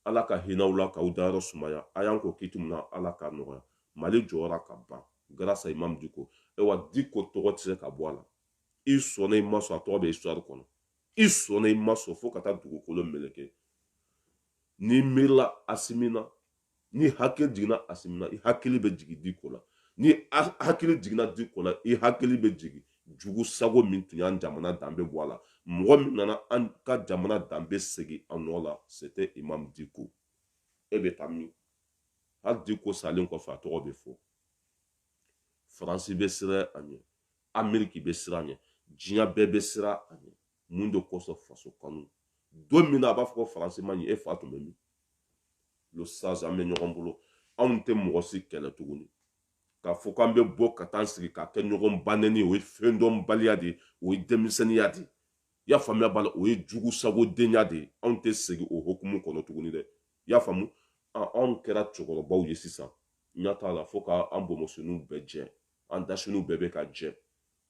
ala ka hinɛ u la k'u dayɔrɔ sumaya a y'an kɔn kiiti min na ala k'a nɔgɔya mali jɔra ka ban grâce à imam diko ayiwa diko tɔgɔ tɛ se ka bɔ a la i sɔnna i ma sɔn a tɔgɔ bɛ histoire kɔnɔ i sɔnna i ma sɔn fo ka taa dugukolo meleke n'i miirila asimi na n'i hakili jiginna asimi na i hakili bɛ jigin diko la n'i hakili jiginna diko la i hakili bɛ jigin jugu sago min tun y'an jamana danbe bɔ a la mɔgɔ min nana an ka jamana danbe segin a nɔ la c'était imam diko e bɛ taa min hali diko salen kɔfɛ a tɔgɔ bɛ fɔ faransi bɛ siran a ɲɛ ameriki bɛ siran a ɲɛ diɲɛ bɛɛ bɛ siran a ɲɛ mun de kosɔn faso kanu don min na a b'a fɔ ko faransi ma ɲi e fa tun bɛ min le sage an bɛ ɲɔgɔn bolo anw tɛ mɔgɔ si kɛlɛ tuguni k'a fɔ k'an bɛ bɔ ka taa sigi k'a kɛ ɲɔgɔn ba nɛni o ye fɛn dɔnbaliya de ye o ye denmisɛnninya de ye i y'a faamuya b'a la o ye jugu sagodenya de ye anw tɛ segin o hokumu kɔnɔ tuguni dɛ i y'a faamu anw kɛra cɛkɔrɔbaw ye sisan ɲa t'a la fo ka an bonbonsiniw bɛɛ jɛ an dasiniw bɛɛ bɛ ka jɛ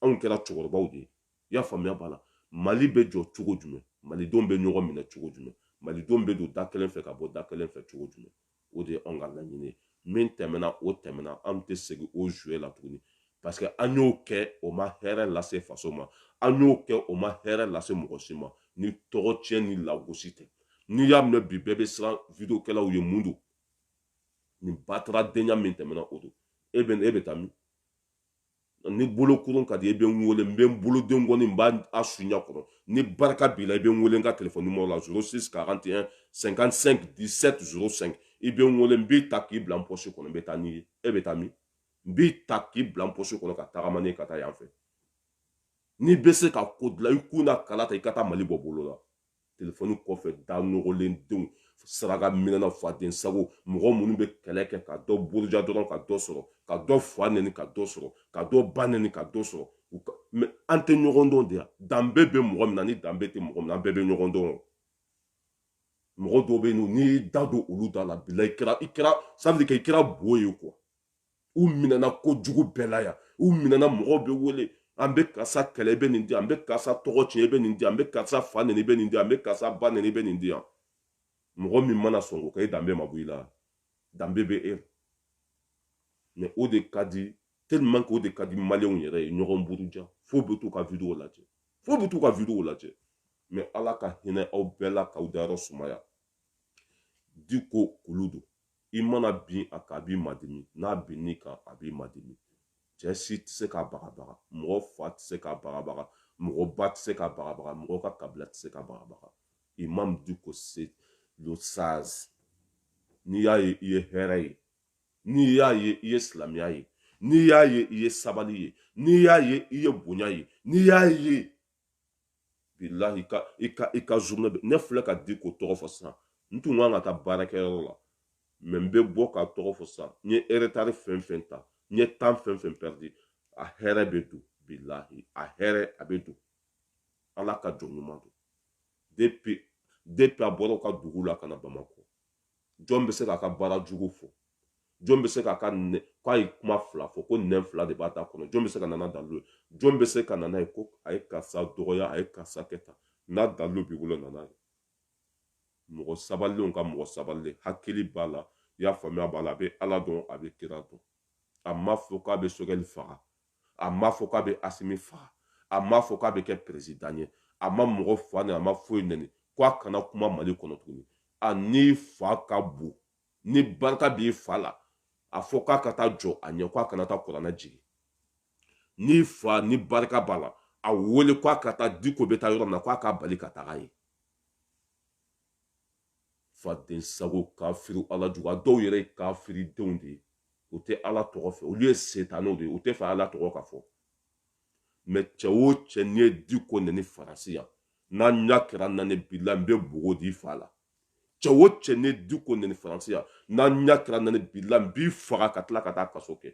anw kɛra cɛkɔrɔbaw de ye i y'a faamuya b'a la mali bɛ jɔ cogo jumɛn malidenw bɛ ɲɔgɔn minɛ cogo jumɛn malidenw bɛ don da kelen fɛ ka bɔ da kelen fɛ cogo jumɛn o de ye anw ka laɲini ye min tɛmɛna o tɛmɛna an tɛ segin o jouer la tuguni parce que an y'o kɛ o ma hɛrɛ lase faso ma an y'o kɛ o ma hɛrɛ lase mɔgɔ si ma ni tɔgɔ tiɲɛ ni lagosi tɛ n'i y'a minɛ bi bɛɛ bɛ siran vidéokɛlaw ɲɛ mun don nin bataradenya min tɛmɛna o don e bɛ e bɛ taa min n'i bolokuru ka di i bɛ n wele n bɛ n bolo den kɔni n b'a su i ɲa kɔrɔ ni barika b'i la i bɛ n wele n ka telefɔni numéro la 06 41 55 17 05 i bɛ n wele n b'i ta k'i bila n pɔsi kɔnɔ n bɛ taa n'i ye e bɛ taa min n b'i ta k'i bila n pɔsi kɔnɔ ka tagama n'i ye ka taa yan fɛ n'i bɛ se ka ko dilan i kun na kala ta i ka taa mali bɔ bɔlɔ la telefɔni kɔfɛ da nɔgɔlen denw saraka minɛna faden sago mɔgɔ minnu bɛ kɛlɛ kɛ ka dɔ buruja dɔrɔn ka dɔ sɔrɔ ka dɔ fa nɛni ka dɔ sɔrɔ ka dɔ ba nɛni ka dɔ sɔrɔ mais an tɛ ɲɔgɔn dɔn de yan danbe bɛ mɔgɔ min na ni danbe tɛ mɔgɔ min na an bɛɛ bɛ ɲɔgɔn dɔn mɔgɔ dɔw bɛ yen n'i y'i da don olu da la bilahi i kɛra i kɛra ça veut dire que i kɛra bo ye quoi u minɛna kojugu bɛɛ la yan u minɛna mɔgɔw bɛ wele an bɛ karisa kɛlɛ i bɛ nin di an bɛ karisa tɔgɔ tiɲɛ i bɛ nin di an bɛ karisa fa neni i bɛ nin di an bɛ karisa ba neni i bɛ nin di yan mɔgɔ min mana sɔn k'o kɛ e danbe ma bɔ i la danbe bɛ e la mɛ o de ka di tellement que o de ka di maliyɛnw yɛrɛ ye ɲɔgɔn buruja fo bɛ t'u ka video lajɛ fo bɛ t'u ka video lajɛ mɛ ala ka hinɛ aw bɛɛ la k'aw dayɔrɔ sumaya diko kulu don i mana bin a kan a b'i madimi n'a bin'i kan a b'i madimi cɛ si tɛ se k'a bagabaga mɔgɔ fa tɛ se k'a bagabaga mɔgɔ ba tɛ se k'a bagabaga mɔgɔ ka kabila tɛ se k'a bagabaga imam diko c'est le sage n'i y'a ye i ye hɛrɛ ye n'i y'a ye i ye silamɛya ye n'i y'a ye i ye sabali ye n'i y'a ye i ye bonya ye n'i y'a ye bilahi i ka zurune bɛ ne filɛ ka diko tɔgɔ fɔ sisan n tun kan ka taa baarakɛyɔrɔ la mɛ n bɛ bɔ k'a tɔgɔ fɔ sisan n ye eretari fɛn fɛn ta n ye tan fɛn fɛn pɛridi a hɛrɛ bɛ don bilahi a hɛrɛ a bɛ don ala ka jɔn ɲuman don depi depi a bɔra u ka dugu la ka na bamakɔ jɔn bɛ se k'a ka baara jugu fɔ jɔn bɛ se k'a ka k'a ye kuma fila fɔ ko nɛn fila de b'a da kɔnɔ jɔn bɛ se ka na n'a dalu ye jɔn bɛ se ka na n'a ye ko a ye karisa dɔgɔya a ye karisa kɛ tan n'a dalu b'i bolo na n'a ye mɔgɔ sabalilenw ka mɔgɔ sabalilen hakili b'a la i y'a faamuya b'a la a bɛ ala dɔn a bɛ kira dɔn a m'a fɔ k'a bɛ sogɛli faga a m'a fɔ k'a bɛ asimi faga a m'a fɔ k'a bɛ kɛ perezidan ye a ma mɔgɔ fa nɛni a ma foyi nɛni ko a kana kuma mali kɔnɔ tuguni a n'i fa ka bon ni barika b'i fa la a fɔ k'a ka taa jɔ a ɲɛ ko a kana taa kuranɛ jigin n'i fa ni barika b'a la a wele ko a ka taa diko bɛ taa yɔrɔ min na ko a k'a bali ka taga ye fadensago kafiri ala jugu a dɔw yɛrɛ ye kafiri denw de ye u tɛ ala tɔgɔ fɛ olu ye setanɛw de ye u tɛ fɛ ala tɔgɔ ka fɔ mɛ cɛ o cɛ n'i ye diko neni faransi yan n'an ɲa kɛra naani bilahi n bɛ bogo d'i fa la cɛ o cɛ n'i ye diko neni faransi yan n'an ɲa kɛra naani bilahi n b'i faga ka tila ka taa kaso kɛ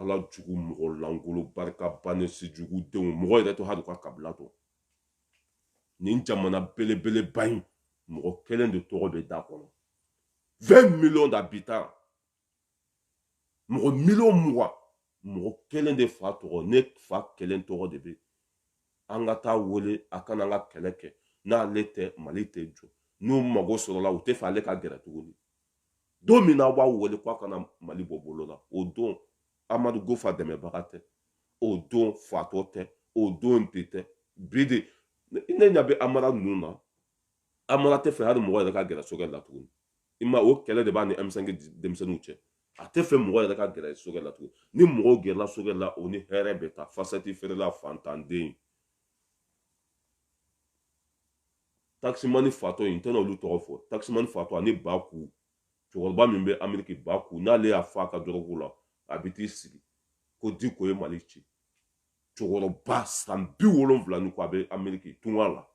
ala jugu mɔgɔ lankolo barika bannen sijugu denw mɔgɔ yɛrɛ tɛ hali i ka kabila dɔn nin jamana belebeleba in mɔgɔ kelen de tɔgɔ bɛ da kɔnɔ 20 millions d'habitants mɔgɔ miliyɔn mugan mɔgɔ kelen de fa tɔgɔ ne fa kelen tɔgɔ de bɛ an ka taa a wele a ka na an ka kɛlɛ kɛ n'ale tɛ mali tɛ jɔ n'u mago sɔrɔla u tɛ fɛ ale ka gɛrɛ tuguni don min na aw b'a wele ko a kana mali bɔ bolo la o don amadu kufa dɛmɛbaga tɛ o don fatɔ tɛ o don tɛ bi dɛ ne ɲa bɛ amara ninnu na amara t'a fɛ hali mɔgɔ yɛrɛ ka gɛrɛ choguel la tuguni i ma o kɛlɛ de b'a ni ɛmisɛnki denmisɛnninw cɛ a t'a fɛ mɔgɔ yɛrɛ ka gɛrɛ choguel la tuguni ni mɔgɔw gɛrɛla choguel la o ni hɛrɛ bɛ taa fasɛti feerela fantanden takisimani fatɔ in n tɛna olu tɔgɔ fɔ takisimani fatɔ ani baku cɛkɔrɔba min bɛ ameriki baku n'ale y'a fa a ka dɔrɔgu la a bɛ t'i sigi ko diko ye mali ci cɛkɔrɔba san bi wolonwula ni kɔ a bɛ ameriki tunga la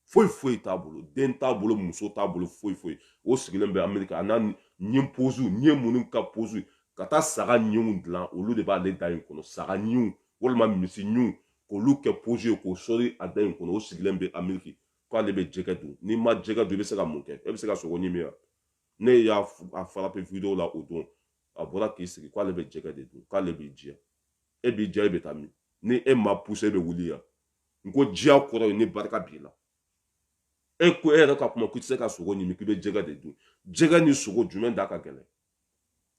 foyi foyi t'a bolo den t'a bolo muso t'a bolo foyi foyi o sigilen bɛ ameriki a n'a ɲin pozu ɲin minnu ka pozu ka taa saga ɲinw dilan olu de b'ale da in kɔnɔ saga ɲinw walima misi ɲinw k'olu kɛ pozu ye k'o sɔri a da in kɔnɔ o sigilen bɛ ameriki k'ale bɛ jɛgɛ dun n'i ma jɛgɛ dun i bɛ se ka mun kɛ e bɛ se ka sogo ɲimi wa ne y'a farape video la o don a bɔra k'i sigi k'ale bɛ jɛgɛ de dun k'ale b'i diya e b'i diya e bɛ taa min ni e ma puse e bɛ wuli yan n ko diya kɔrɔ ye ni barika b'i la e ko e yɛrɛ ka kuma k'i tɛ se ka sogo ɲimi k'i bɛ jɛgɛ de dun jɛgɛ ni sogo jumɛn da ka gɛlɛn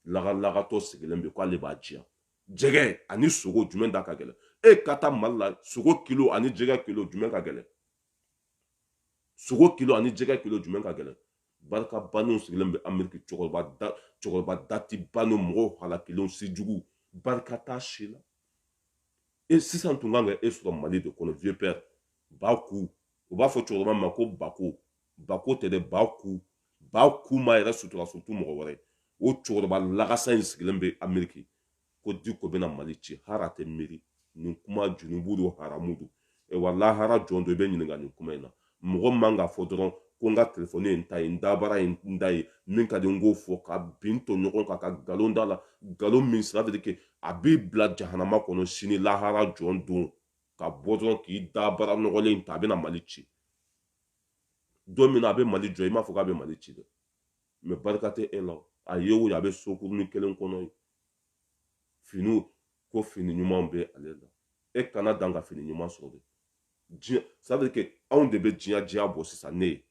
lagalagatɔ sigilen bɛ k'ale b'a diya jɛgɛ ani sogo jumɛn da ka gɛlɛn e ka taa mali la sogo kilo ani jɛgɛ kilo jumɛn ka gɛlɛn sogo kilo ani jɛgɛ kilo jumɛn ka gɛlɛn barika bannen sigilen bɛ ameriki cɛkɔrɔba da cɛkɔrɔba dati bannen mɔgɔw halakilenw sijugu barika t'a si la e sisan tun kan ka e sɔrɔ mali de kɔnɔ vieux père baku u b'a fɔ cɛkɔrɔba ma ko bako bako tɛ dɛ baku baku m'a yɛrɛ sutura surtout mɔgɔ wɛrɛ o cɛkɔrɔba lagasa in sigilen bɛ ameriki ko diko bɛna mali ci hali a tɛ miiri nin kuma junubu don haramu don wa lahara jɔ don i bɛ ɲininka nin kuma in na mɔgɔ man ka fɔ dɔrɔn ko n ka telefɔni ye n ta ye n dabara ye n ta ye min ka di n k'o fɔ ka bin to ɲɔgɔn kan ka nkalon da a la nkalon min sira de ke a b'i bila jahanama kɔnɔ sini lahara jɔ don ka bɔ dɔrɔn k'i dabara nɔgɔlen ta a bɛna mali ci don min na a bɛ mali jɔ i m'a fɔ k'a bɛ mali ci dɛ mɛ barika tɛ e la a ye o ye a bɛ sokuruni kelen kɔnɔ yen finiw ko fini ɲumanw bɛ ale la e kana dan ka fini ɲuman sɔrɔ dɛ diɲɛ c'est-à-dire que anw de bɛ diɲɛ diya bɔ sisan ne ye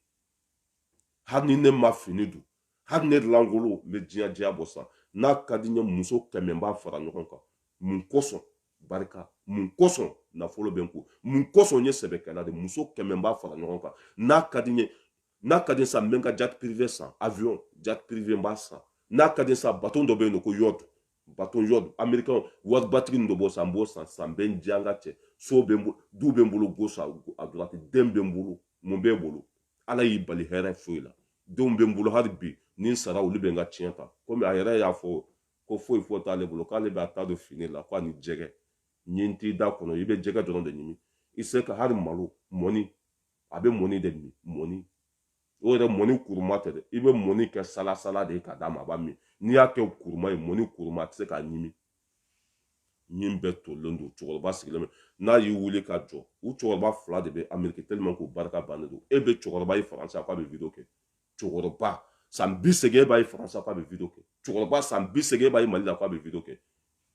hali ni ne ma fini don hali ne lankolon n bɛ diɲɛ diya bɔ sisan n'a ka di n ye muso kɛmɛ n b'a fara ɲɔgɔn kan mun kosɔn barika mun kosɔn nafolo bɛ n kun mun kosɔn n ye sɛbɛkɛla de muso kɛmɛ n b'a fara ɲɔgɔn kan n'a ka di n ye n'a ka di sa n bɛ n ka jet privé san avion jet privé n b'a san n'a ka di sa bateau dɔ bɛ yen nɔ ko yacht bateau yacht amerikɛnw waribatigi nin dɔ b'o san n b'o san sa n bɛ n diya n ka cɛ so bɛ n bolo du bɛ n bolo gauche à droite den bɛ n bolo mun bɛ n bolo ala y'i bali hɛrɛ foyi la denw bɛ n bolo hali bi ni n sara olu bɛ n ka tiɲɛ ta komi a yɛrɛ y'a fɔ ko foyi foyi t'ale bolo k'ale bɛ a ta don fini la ko ani jɛgɛ ɲin t'i da kɔnɔ i bɛ jɛgɛ dɔrɔn de ɲimi i se ka hali malo mɔni a bɛ mɔni de min mɔni o yɛrɛ mɔni kuruma tɛ dɛ i bɛ mɔni kɛ salasala de ye ka d'a ma a b'a min n'i y'a kɛ kuruma ye mɔni kuruma a tɛ se k'a ɲimi ɲin bɛɛ tolilen don cɛkɔrɔba sigilen bɛ n'a y'i wuli ka jɔ u cɛkɔrɔba fila de bɛ ameriki tellement k'u barika bannen don e bɛ cɛkɔrɔba ye faransi a k'a bɛ wideyo kɛ cɛkɔrɔba san bi segin e b'a ye faransi k'a bɛ video kɛ cɛkɔrɔba san bi segin e b'a ye mali la k'a bɛ video kɛ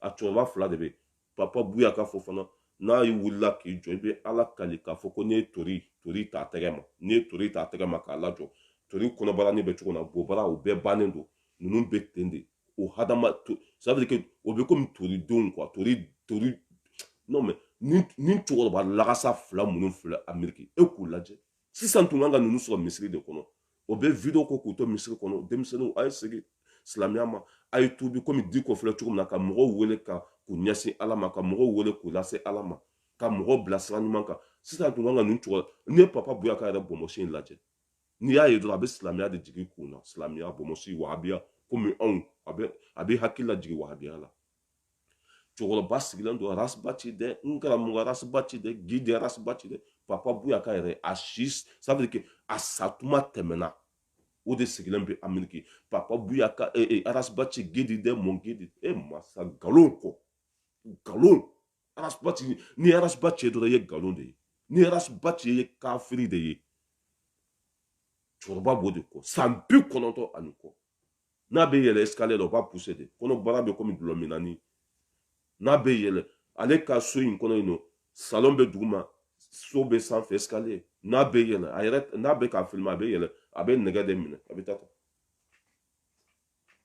a cɛkɔrɔba fila de bɛ yen papa buyaka fɔ fana n'a y'i wulila k'i jɔ i bɛ ala kali k'a fɔ ko n'i ye tori tori ta tɛgɛ ma n'i ye tori ta tɛgɛ ma k'a lajɔ tori kɔnɔbaranin bɛ cogo min na bobara o bɛɛ bannen don ninnu bɛ ten de o hadama ça veut dire que o bɛ komi tori denw quoi tori tori non mais ni ni cɛkɔrɔba lagasa fila minnu filɛ ameriki e k'u lajɛ sisan tun kan ka ninnu sɔrɔ misiri de kɔnɔ o bɛ video kɛ k'u to misiri kɔnɔ denmisɛnninw a ye segin silamɛya ma a ye tuubi komi diko filɛ cogo min na ka mɔgɔw wele ka k'u ɲɛsin ala ma ka mɔgɔw wele k'u lase ala ma ka mɔgɔw bila sira ɲuman kan sisan tun kan ka ninnu cɛkɔrɔba n'i ye papa buyaka yɛrɛ bɔnbɔsi in lajɛ n'i y'a ye dɔrɔn a bɛ silamɛya de jigin kun na silamɛya bɔnbɔsi wahabiya komi anw a bɛ a bɛ hakili lajigin wahabiya la cɛkɔrɔba sigilen don ras bath dɛ n karamɔgɔ ras bath dɛ guide ras bath dɛ papa buyaka yɛrɛ a si ça veut dire que a satuma tɛmɛna o de sigilen bɛ ameriki papa buyaka eh, eh, ras bath guide dɛ mon guide e masa nkalon kɔ nkalon ras bath ni ras bath ye dɔrɔn i ye nkalon de ye ni ras bath ye kafiri de ye cɛkɔrɔba b'o de kɔ san bi kɔnɔntɔn ani kɔ n'a bɛ yɛlɛ escalier la o b'a pousser de kɔnɔbara bɛ komi dɔlɔ minani n'a bɛ yɛlɛ ale ka so in kɔnɔ yen nɔ salon bɛ duguma so bɛ sanfɛ escalier n'a bɛ yɛlɛ a yɛrɛ n'a bɛ k'a filmer a bɛ yɛlɛ a bɛ nɛgɛ de minɛ a bɛ taa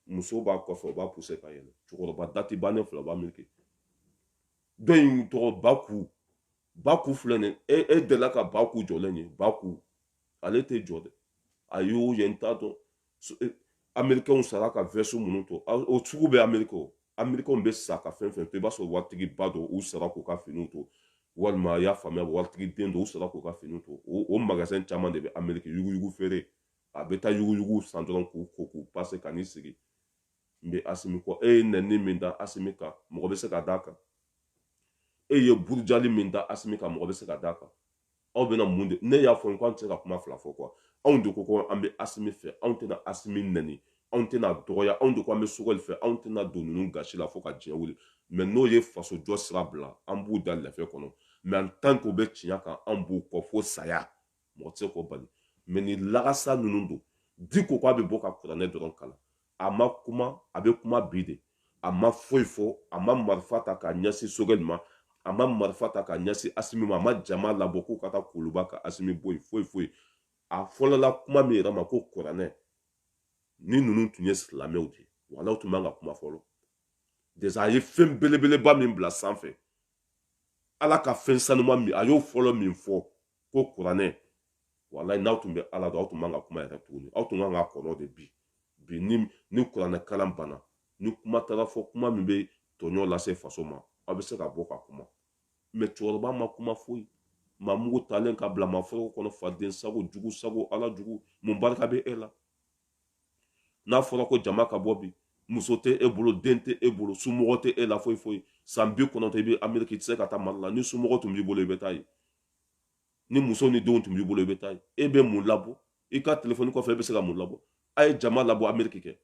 muso b'a kɔfɛ o b'a pousser ka yɛlɛ cɛkɔrɔba dati bannen fila o b'ameriki dɔ in tɔgɔ baku baku filɛ nin e e delila ka baku jɔlen ye baku ale tɛ jɔ dɛ a y'u ye n t'a dɔn e, amerikɛnw sara ka veste minnu to o sugu bɛ ameriki o amerikɛnw bɛ sa ka fɛn fɛn to i b'a sɔrɔ waritigiba don u sara k'u ka finiw to walima i y'a faamuya waritigi den don u sara k'u ka finiw to o magasin caman de bɛ ameriki yuguyugu feere a bɛ taa yuguyugu san dɔrɔn k'u ko k'u pase ka n'i sigi n bɛ asimi kɔ e ye nɛni min da asimi kan mɔgɔ bɛ se ka d'a kan e ye burujali min da asimi kan mɔgɔ bɛ se ka d'a kan aw bɛna mun de ne y'a fɔ n ko an tɛ se ka kuma fila fɔ quoi anw de ko ko an bɛ asimi fɛ anw tɛna asimi nɛni anw tɛn'a dɔgɔya anw de ko an bɛ sogɛli fɛ anw tɛna don ninnu gasi la fo ka diɲɛ wuli mais n'o ye faso jɔ sira bila an b'u da lɛfɛ kɔnɔ mais en tant qu'o bɛ tiɲɛ kan an b'u kɔ fo saya mɔgɔ tɛ se k'o bali mais ni lagasa ninnu don diko k'a bɛ bɔ ka kuranɛ dɔrɔn kalan a ma kuma a bɛ kuma bi de a ma foyi fɔ a ma marifa ta k'a ɲɛsin sogɛli ma a ma marifa ta k'a ɲɛsin asimi ma a ma jama labɔ k'u ka taa kuluba ka asimi bɔ yen foyi foyi a fɔlɔla kuma min yɛrɛ ma ko kuranɛ ni ninnu tun ye silamɛw de ye walayi u tun man ka kuma fɔlɔ déjà a ye fɛn belebeleba min bila sanfɛ ala ka fɛn sanuma min a y'o fɔlɔ min fɔ ko kuranɛ walayi n'aw tun bɛ ala dɔn aw tun man ka kuma yɛrɛ tuguni aw tun kan ka kɔnɔ de bi bi ni ni kuranɛ kalan banna ni kuma taara fɔ kuma min bɛ tɔɲɔ lase faso ma aw bɛ se ka bɔ ka kuma mais cɛkɔrɔba ma kuma foyi maa mugu talen ka bila maa foroko kɔnɔ faden sago jugu sago ala jugu mun barika bɛ e la n'a fɔra ko jama ka bɔ bi muso tɛ e bolo den tɛ e bolo somɔgɔ tɛ e la foyi foyi san bi kɔnɔntɔn i bɛ ameriki i tɛ se ka taa mali la ni somɔgɔ tun b'i bolo i bɛ taa yen ni muso ni denw tun b'i bolo i bɛ taa yen e bɛ mun labɔ i ka telefɔni kɔfɛ e bɛ se ka mun labɔ a ye jama labɔ ameriki kɛ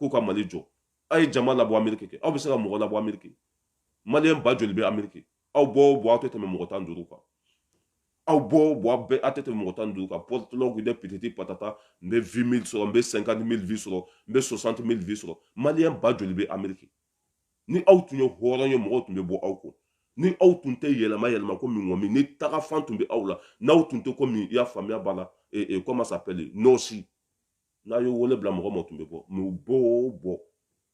k'u ka mali jɔ a ye jama labɔ ameriki kɛ aw bɛ se ka mɔgɔ labɔ ameriki maliyɛn ba joli bɛ ameriki aw bɔ o bɔ aw tɛ tɛmɛ mɔgɔ tan duuru kan aw bɔ o bɔ aw bɛɛ aw tɛ tɛmɛ mɔgɔ tan duuru kan pɔtɔlɔgu de pititi patata n bɛ vingt mille sɔrɔ n bɛ cinquante mille vues sɔrɔ n bɛ soixante mille vues sɔrɔ maliyɛn ba joli bɛ ameriki ni aw tun ye hɔrɔn ye mɔgɔw tun bɛ bɔ aw kɔ ni aw tun tɛ yɛlɛma yɛlɛma komi ŋɔmi ni tagafan tun bɛ aw la n'aw tun tɛ komi i y'a faamuya b'a la comment ça s'appelle nɔɔnsi n'a ye wele bila mɔgɔ ma tun bɛ bɔ mais u bɔ o bɔ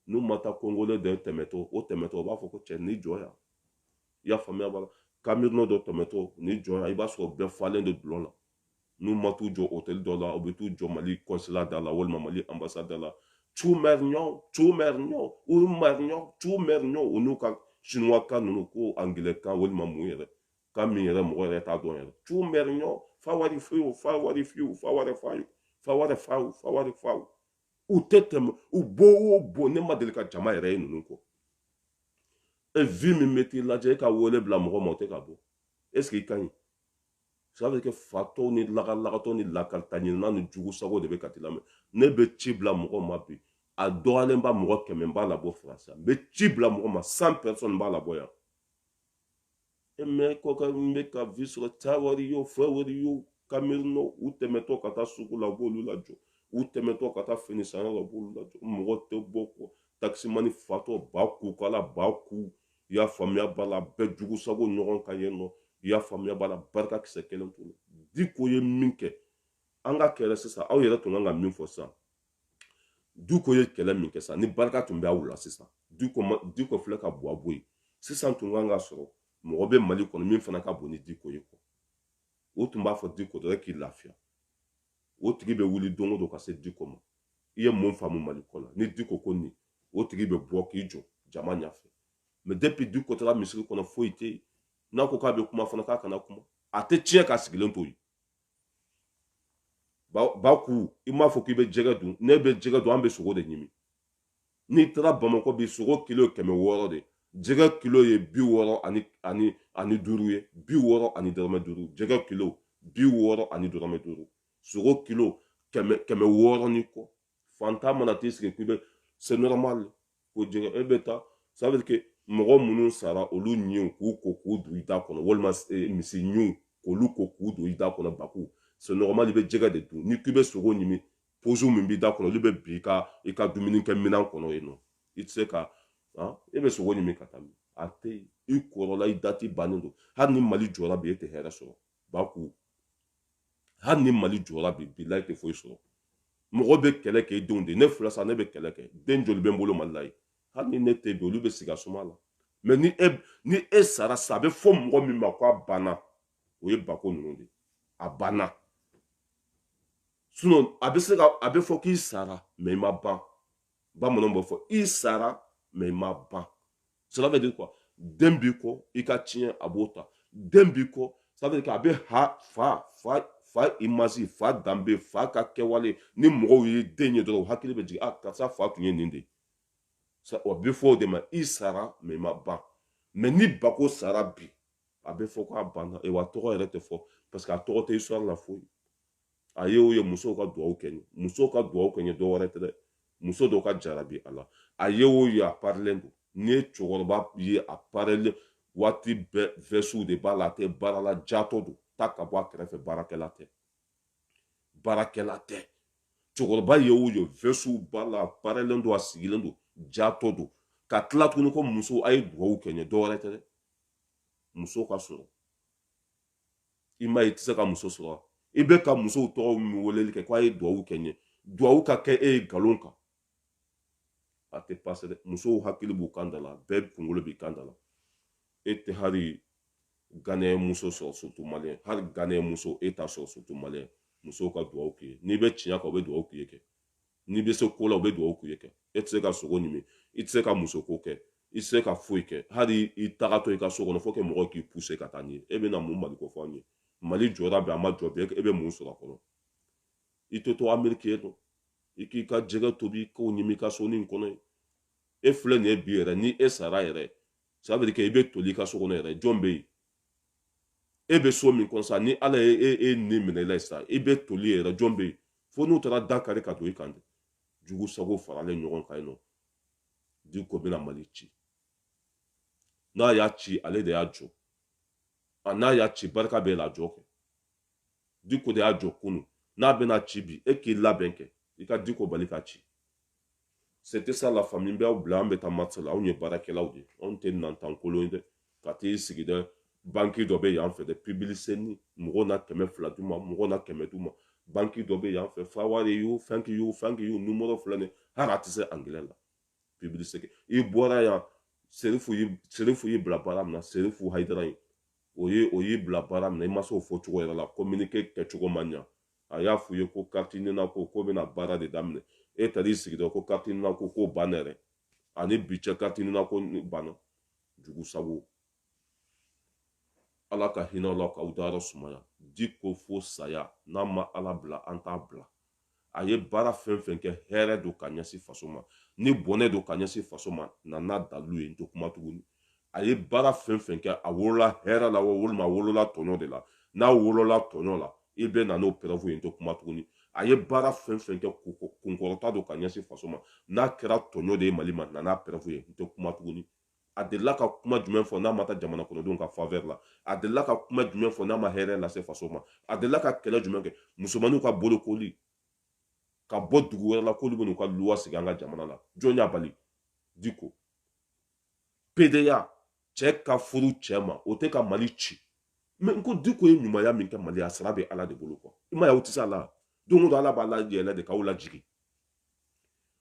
n'u ma taa congolais dɔ tɛmɛtɔ o tɛmɛtɔ o b'a fɔ ko cɛ n'i jɔ yan i y'a faamuya b'a la camerounais dɔ tɛmɛtɔ n'i jɔ yan i b'a sɔrɔ bɛɛ falen de dɔlɔ la n'u ma t'u jɔ hôtel dɔ la u bɛ t'u jɔ mali consulat da la walima mali ambassade da la tu mɛriɲɔ tu mɛriɲɔ u mɛriɲɔ tu mɛriɲɔ u n'u ka sinuwa kan ninnu ko angilɛ kan walima mun yɛrɛ kan min yɛrɛ mɔgɔ yɛrɛ t'a dɔn yɛrɛ tu mɛri ɲɔ fa wari fiyewu fa wari fiyewu fa wari fayu fa wari fawu fa wari fawu u tɛ tɛmɛ u bɔ o bɔ ne ma deli ka jama yɛrɛ ye ninnu kɔ e vues min bɛ t'i lajɛ e ka wele bila mɔgɔ ma o tɛ ka bɔ est ce que i ka ɲi ça veut dire que fatɔw ni lagalagatɔ ni lakalita ɲinina ni jugu sago de bɛ ka t'i lamɛn ne bɛ ci bila mɔgɔ ma bi a dɔgɔyalenba mɔgɔ kɛmɛ b'a labɔ faransi n bɛ ci bila mɔgɔ ma cent personnes b'a labɔ yan e mɛ kɔka n bɛ ka vi sɔrɔ ca wari y'o fɛ wari y'o kamerunɔ u tɛmɛtɔ ka taa sugu la u b'olu lajɔ u tɛmɛtɔ ka taa fini sanyɔrɔ la u b'olu lajɔ mɔgɔ tɛ bɔ kɔ takisimani fatɔ baku kala baku i y'a faamuya b'a la bɛɛ jugu sago ɲɔgɔn ka yen nɔ i y'a faamuya b'a la barika kisɛ kelen t'o la diko ye min kɛ an ka kɛlɛ sisan aw yɛrɛ tun kan ka min fɔ sisan diko ye kɛlɛ min kɛ sa ni barika tun bɛ aw la sisan diko filɛ ka bɔ a bɔ yen sisan tun kan ka sɔrɔ mɔgɔ bɛ mali kɔnɔ min fanga ka bon ni diko ye kɔ o tun b'a fɔ diko dɔ k'i lafiya o tigi bɛ wuli don o don ka se diko ma i ye mun faamu mali kɔ la ni diko ko nin o tigi bɛ bɔ k'i jɔ jama ɲɛfɛ mɛ depi diko taara misiri kɔnɔ foyi tɛ yen n'a ko k'a bɛ kuma fana k'a kana kuma a tɛ tiɲɛ k'a sigilen to yen baku i m'a fɔ k'i bɛ jɛgɛ dun n'i bɛ jɛgɛ dun an bɛ sogo de ɲimi n'i taara bamakɔ bi sogo kilo kɛmɛ wɔɔrɔ de jɛgɛ kilo ye bi wɔɔrɔ ani ani ani duuru ye bi wɔɔrɔ ani dɔrɔmɛ duuru jɛgɛ kilo bi wɔɔrɔ ani dɔrɔmɛ duuru sogo kilo kɛmɛ kɛmɛ wɔɔrɔ ni kɔ fantan mana t'i sigi k'i bɛ c'est normal ko jɛgɛ e bɛ taa ça veut dire que mɔgɔ minnu sara olu ɲinw k'u ko k'u don i da kɔnɔ walima eh, misi ɲinw k'olu ko k'u don i da kɔnɔ baku c'est normal i bɛ jɛgɛ de dun ni k'i bɛ sogo ɲimi pozu min b'i da kɔnɔ olu bɛ bin i ka i ka dumuni kɛ minɛn kɔnɔ yen nɔ i tɛ se ka han e bɛ sogo ɲimi ka taa min a tɛ yen i kɔrɔla i dati bannen don hali ni mali jɔra bi e tɛ hɛrɛ sɔrɔ baku hali ni mali jɔra bi bilayi i tɛ foyi sɔrɔ mɔgɔ bɛ kɛlɛ kɛ denw de ne filɛ sa ne bɛ kɛlɛ kɛ den joli bɛ n bolo mali la yen hali ni ne tɛ bi olu bɛ sigi a suma la mɛ ni e ni e sara sa a bɛ fɔ mɔgɔ min ma ko a banna o ye bako ninnu de a banna sinɔn a bɛ se ka a bɛ fɔ k'i sara mɛ i ma ban bamananw b'a fɔ i sara mɛ i ma ban cela veut dire quoi den b'i kɔ i ka ciyɛn a b'o ta den b'i kɔ ça veut dire que a bɛ ha fa fa fa image fa danbe fa ka kɛwale ni mɔgɔw ye den ye dɔrɔn u hakili bɛ jigin a karisa fa tun ye nin de ye o bɛ fɔ o de ma i sara mɛ i ma ban mɛ ni bako sara bi a bɛ fɔ k'a banna wa tɔgɔ yɛrɛ tɛ fɔ parce que a tɔgɔ tɛ histoire la foyi a ye o ye musow ka dugawu kɛ n ye musow ka dugawu kɛ n ye dɔ wɛrɛ tɛ dɛ muso dɔ ka jarabi a la a ye o ye a parilen don n'i ye cɛkɔrɔba ye a parilen waati bɛɛ vɛsiw de b'a la a tɛ baara la jatɔ don taa ka bɔ a kɛrɛfɛ baarakɛla tɛ baarakɛla tɛ cɛkɔrɔba ye o ye vɛsiw b'a la a parilen don a sigilen don jatɔ don ka tila tuguni ko muso a ye dugawu kɛ n ye dɔ wɛrɛ tɛ dɛ muso ka sɔrɔ i m'a ye i tɛ se ka muso sɔrɔ i bɛ ka musow tɔgɔ min weleli kɛ ko a ye duwawu kɛ n ye duwawu ka kɛ e ye nkalon kan a tɛ pase dɛ musow hakili b'u kan da la bɛɛ kunkolo b'i kan da la e tɛ hali ganɛ muso sɔrɔ surtout maliyɛn hali ganɛ muso e t'a sɔrɔ surtout maliyɛn musow ka duwawu k'i ye n'i bɛ tiɲɛ kan u bɛ duwawu k'i ye kɛ n'i bɛ se ko la u bɛ dugawu k'i ye kɛ e tɛ se ka sogo ɲimi i tɛ se ka musoko kɛ i tɛ se ka foyi kɛ hali i tagatɔ i ka so kɔnɔ faut que mɔgɔ k'i puse ka taa n'i ye e bɛna mun mali ko fɔ an ye mali jɔra bi a ma jɔ bi e bɛ mun sɔrɔ a kɔnɔ i tɛ to ameriki yen nɔ i k'i ka jɛgɛ tobi k'o ɲimi i ka so nin kɔnɔ yen e filɛ nin ye bi yɛrɛ ni e sara yɛrɛ ça veut dire que i bɛ toli i ka so kɔnɔ yɛrɛ jɔn bɛ yen e bɛ so min kɔnɔ sa ni ala ye e ni minɛ i la sa i bɛ toli yɛrɛ jɔn bɛ yen fo n'u taara da kari ka don i kan dɛ jugu sago faralen ɲɔgɔn kan yen nɔ diko bɛna mali ci n'a y'a ci ale de y'a jɔ a n'a y'a ci barika b'a la jɔ kɛ diko de y'a jɔ kunun n'a bɛna ci bi e k'i labɛn kɛ i ka diko bali ka ci c'était ça la famille n bɛ aw bila an bɛ taa match la anw ye baarakɛlaw de ye anw tɛ nantankolon ye dɛ ka t'i sigi dɛ banki dɔ bɛ yan fɛ dɛ publicité mɔgɔw na kɛmɛ fila d'u ma mɔgɔw na kɛmɛ d'u ma banki dɔ bɛ yan fɛ how are you thank you thank you nimɔrɔ filɛ nin hali a tɛ se angilɛ la publicité i bɔra yan serifu y'i serifu y'i bila baara min na serifu hayidara ye o ye o y'i bila baara min na i ma se o fɔ cogo yɛrɛ la kominike kɛcogo man ɲa a y'a f'u ye ko kariti nina ko k'o bɛna baara de daminɛ e taara i sigi dɔrɔn ko kariti nina ko k'o banna yɛrɛ ani bi cɛ kariti nina ko banna jugu sago ala ka hinɛ aw la k'aw dayɔrɔ sumaya diko fo saya n'a ma ala bila an t'a bila a ye baara fɛn fɛn kɛ hɛrɛ don ka ɲɛsin faso ma ni bɔnɛ don ka ɲɛsin faso ma na n'a dalilu ye n tɛ kuma tuguni a ye baara fɛn fɛn kɛ a wolola hɛrɛ la walima a wolola tɔɲɔ de la n'a wolola tɔɲɔ la i bɛ na n'o pɛrɛfu ye n tɛ kuma tuguni a ye baara fɛn fɛn kɛ kunkɔrɔta don ka ɲɛsin faso ma n'a kɛra tɔɲɔ de ye mali ma na n'a pɛrɛfu ye n tɛ kuma tuguni a delila ka kuma jumɛn fɔ n'a ma taa jamana kɔnɔdenw ka favɛri la a delila ka kuma jumɛn fɔ n'a ma hɛrɛ lase faso ma a delila ka kɛlɛ jumɛn kɛ musomanninw ka bolokoli ka bɔ dugu wɛrɛ la k'olu bɛ n'u ka luwa sigi an ka jamana la jɔn y'a bali diko pedeya cɛ ka furu cɛ ma o tɛ ka mali ci mais n ko diko ye ɲumanya min kɛ mali a sara bɛ ala de bolo quoi i m'a ye aw tɛ se a la don o don ala b'a layɛlɛ de k'aw lajigin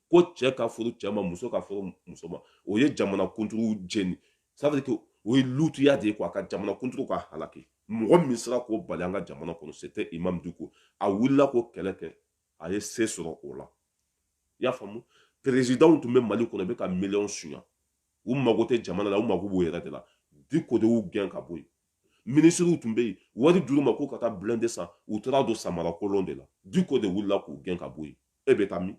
ko cɛ ka furu cɛ ma muso ka furu muso ma o ye jamana kunturu jeni ça veut dire que o ye lutuya de ye quoi ka jamana kunturu ka halaki mɔgɔ min sera k'o bali an ka jamana kɔnɔ c'était imam diko a wulila k'o kɛlɛ kɛ a ye se sɔrɔ o la i y'a faamu perezidanw tun bɛ mali kɔnɔ bɛ ka miliyɔn suɲa u mago tɛ jamana la u mago b'u yɛrɛ de la diko de y'u gɛn ka bɔ yen minisiriw tun bɛ yen wari dir'u ma k'u ka taa blindé san u taara don samara kolon de la diko de wulila k'u gɛn ka bɔ yen e bɛ taa min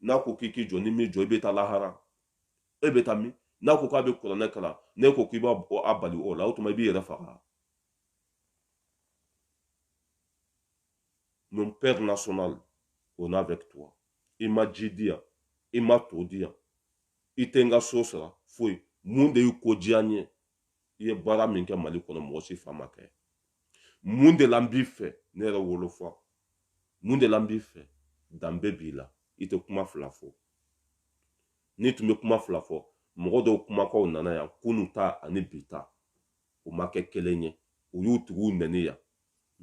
n'a ko k'i k'i jɔ n'i m'i jɔ i bɛ taa lahara e bɛ taa min n'a ko k'a bɛ kuranɛ kalan n'e ko k'i b'a bali o la o tuma i b'i yɛrɛ faga mon père national on est avec toi i ma ji di yan i ma to di yan i tɛ n ka so sara foyi mun de y'i ko diya n ye i ye baara min kɛ mali kɔnɔ mɔgɔ si fa m'a kɛ mun de la n b'i fɛ ne yɛrɛ wolofa mun de la n b'i fɛ danbe b'i la i tɛ kuma fila fɔ n'i tun bɛ kuma fila fɔ mɔgɔ dɔw kumakanw nana yan kunu ta ani bi ta o ma kɛ kelen ye u y'u tigiw nɛni yan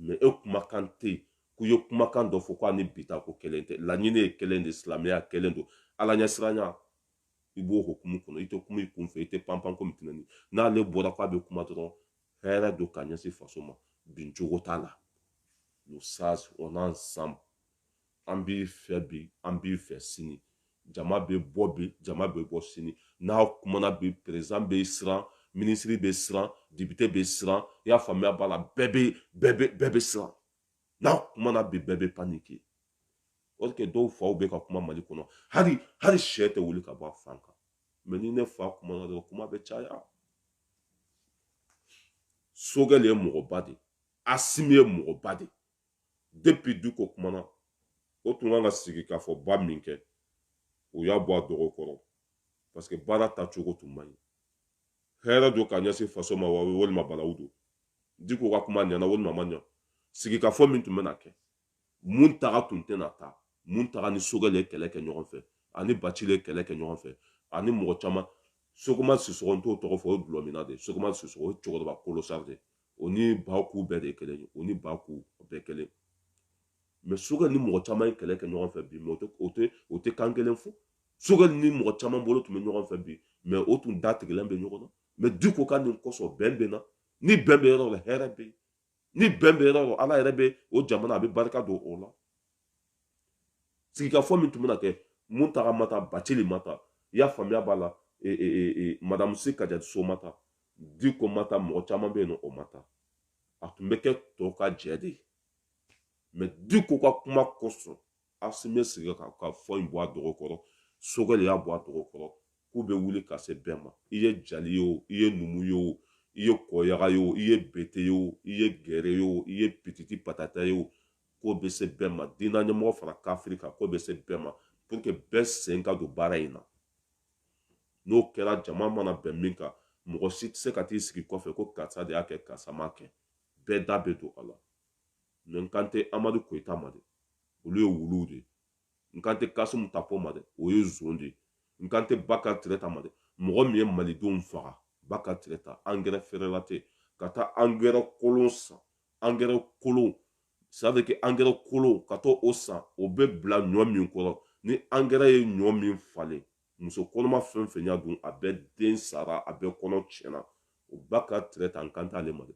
mɛ e kumakan tɛ yen k'u ye kumakan dɔ fɔ k'o ani bi ta k'o kelen tɛ laɲini ye kelen de silamɛya kelen don ala ɲɛsiranya i b'o hukumu kɔnɔ i tɛ kuma i kunfɛ i tɛ panpan komi tɛnɛni n'ale bɔra k'a bɛ kuma dɔrɔn hɛrɛ don ka ɲɛsin faso ma bin cogo t'a la le sage on est ensemble an b'i fɛ bi an b'i fɛ sini jama bɛ bɔ bi jama bɛ bɔ sini n'a kumana bi perezidan bɛ siran minisiri bɛ siran depite bɛ siran i y'a faamuya b'a la bɛɛ bɛ bɛɛ bɛ bɛɛ bɛ siran n'a kumana bi bɛɛ bɛ panike o kɛ dɔw faw bɛ ka kuma mali kɔnɔ hali hali sɛ tɛ wuli ka bɔ a fan kan mɛ ni ne fa kumana dɔrɔn kuma bɛ caya sogɛli ye mɔgɔba de asimi ye mɔgɔba de depi diko kumana o tun kan ka sigikafɔba min kɛ u y'a bɔ a dɔgɔ kɔrɔ parce que baara tacogo tun man ɲi hɛrɛ don ka ɲɛsin faso ma wa walima balawu don diko ka kuma ɲɛna walima a ma ɲa sigikafɔ min tun bɛna kɛ muntaga tun tɛna taa muntaga ni sogɛli ye kɛlɛ kɛ ɲɔgɔn fɛ ani bacili ye kɛlɛ kɛ ɲɔgɔn fɛ ani mɔgɔ caman sɛku umaru sisɔkɔ n t'o tɔgɔ fɔ o ye dulɔminna de ye sɛku umaru sisɔkɔ o ye cɛkɔrɔba kolosari de ye o ni baku bɛɛ de kelen o ni baku bɛɛ kelen mɛ sogɛli ni mɔgɔ caman ye kɛlɛ kɛ ɲɔgɔn fɛ bi mɛ o tɛ o tɛ kan kelen fɔ sogɛli ni mɔgɔ caman bolo tun bɛ ɲɔgɔn fɛ bi mɛ o tun da tigɛlen bɛ ɲɔgɔn na mɛ diko ka nin kosɔn bɛn bɛ na ni bɛn bɛ yɔrɔ la hɛrɛ bɛ yen ni bɛn bɛ yɔrɔ la ala yɛrɛ bɛ o jamana a bɛ barika don o la sigikafɔ min tun bɛna kɛ muntaga ma taa bacili ma taa i y'a faamuya b'a la madamu si kajatu so ma taa diko ma taa mɔgɔ caman bɛ yen nɔ o ma taa a tun bɛ kɛ tɔw ka jɛ de ye mais diko ka kuma kosɔn asimi ye sigikafɔ in bɔ a dɔgɔ kɔrɔ sogɛli y'a bɔ a dɔgɔ kɔrɔ k'u bɛ wuli ka se bɛɛ ma i ye jali ye o i ye numu ye o i ye kɔyaga ye o i ye bete ye o i ye gɛrɛ ye o i ye pititi patata ye o k'o bɛ se bɛɛ ma diinɛ ɲɛmɔgɔ fara kafiri kan k'o bɛ se bɛɛ ma pour que bɛɛ sen ka don baara in na n'o kɛra jama mana bɛn min kan mɔgɔ si tɛ se ka t'i sigi kɔfɛ ko karisa de y'a kɛ karisa m'a kɛ bɛɛ da bɛ don a la mais n kan tɛ amadu koyita ma dɛ olu ye wuluw de ye n kan tɛ kasimu tapo ma dɛ o ye zon de ye n kan tɛ bakari tereta ma dɛ mɔgɔ min ye malidenw faga bakari tereta angɛrɛ frelaté ka taa angɛrɛ kolon san angɛrɛ kolon ça veut dire que angɛrɛ kolon ka t'o san o bɛ bila ɲɔ min kɔrɔ ni angɛrɛ ye ɲɔ min falen muso kɔnɔma fɛn fɛn y'a dun a bɛɛ den sara a bɛɛ kɔnɔ tiɲɛna o bakari tereta n kan t'ale ma dɛ i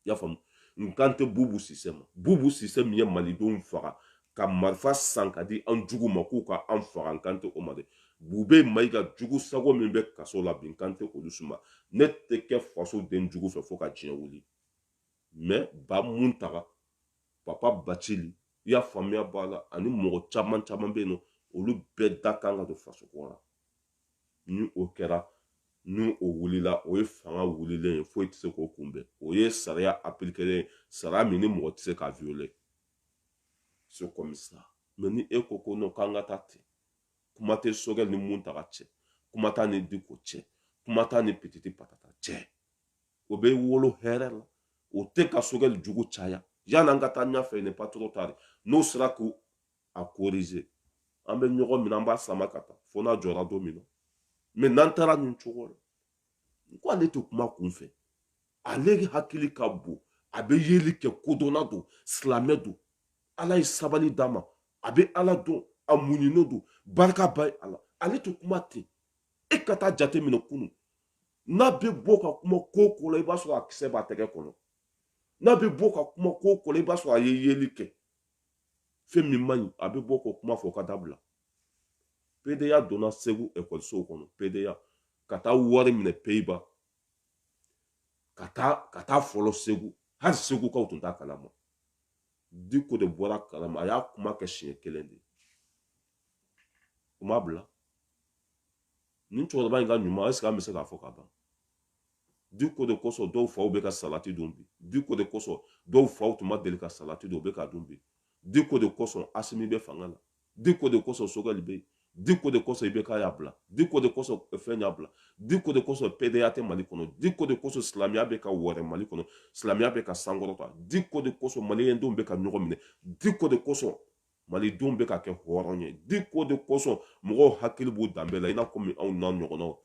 y'a faamu n kan tɛ bubu sise ma bubu sise min ye malidenw faga ka marifa san ka di an jugu ma k'u ka an faga n kan tɛ o ma dɛ bube mayiga jugu sago min bɛ kaso la bi n kan tɛ olu si ma ne tɛ kɛ faso den jugu fɛ fo ka diɲɛ wuli mais ba muntaga papa bacili i y'a faamuya b'a la ani mɔgɔ caman caman bɛ yen nɔ olu bɛɛ da kan ka don faso ko la ni o kɛra ni o wulila o ye fanga wulilen ye foyi tɛ se k'o kunbɛn o ye sariya apilikelen ye sariya min ni mɔgɔ tɛ se k'a violer c'est comme ça mais ni e ko ko nɔ k'an ka taa ten kuma tɛ sogɛli ni muntaga cɛ kuma t'a ni diko cɛ kuma t'a ni pititi patata cɛ o bɛ wolo hɛrɛ la o tɛ ka sogɛli jugu caya yanni an ka taa ɲɛfɛ n'est pas trop tard n'o sera k'a korize an bɛ ɲɔgɔn minɛ an b'a sama ka taa fo n'a jɔra don min na mais n'an taara nin cogo la n ko ale tɛ kuma kun fɛ ale hakili ka bon a bɛ yeli kɛ kodɔnna don silamɛ don ala ye sabali d'a ma a bɛ ala dɔn a muɲunen don barika ba y'a la ale tɛ kuma ten e ka taa jate minɛ kunu n'a bɛ bɔ ka kuma ko ko la i b'a sɔrɔ a kisɛ b'a tɛgɛ kɔnɔ n'a bɛ bɔ ka kuma ko ko la i b'a sɔrɔ a ye yeli kɛ fɛn min man ɲi a bɛ bɔ k'o kuma fɔ k'a dabila pedeya donna segu ekɔlisow kɔnɔ pedeya ka taa wari minɛ peyiba ka taa fɔlɔ segu hali segukaw tun t'a kalama diko de bɔra a kalama a y'a kuma kɛ siɲɛ kelen de u ma bila nin cɛkɔrɔba in ka ɲuman ɛseke an bɛ se k'a fɔ ka ban diko de kosɔn dɔw faw bɛ ka salati dun bi diko de kosɔn dɔw faw tun ma deli ka salati dun u bɛ k'a dun bi diko de kosɔn asimi bɛ fanga la diko de kosɔn sogɛli bɛ yen diko de kosɔn ibeka y'a bila diko de kosɔn eh, fɛn y'a bila diko de kosɔn pɛdɛya tɛ mali kɔnɔ diko de kosɔn silamɛya bɛ ka wɔrɛ mali kɔnɔ silamɛya bɛ ka sankɔrɔta diko de kosɔn maliyɛndenw bɛ ka ɲɔgɔn minɛ diko de kosɔn malidenw bɛ ka kɛ hɔrɔn ye diko de kosɔn mɔgɔw hakili b'u danbe la i n'a komi anw n'an ɲɔgɔnnaw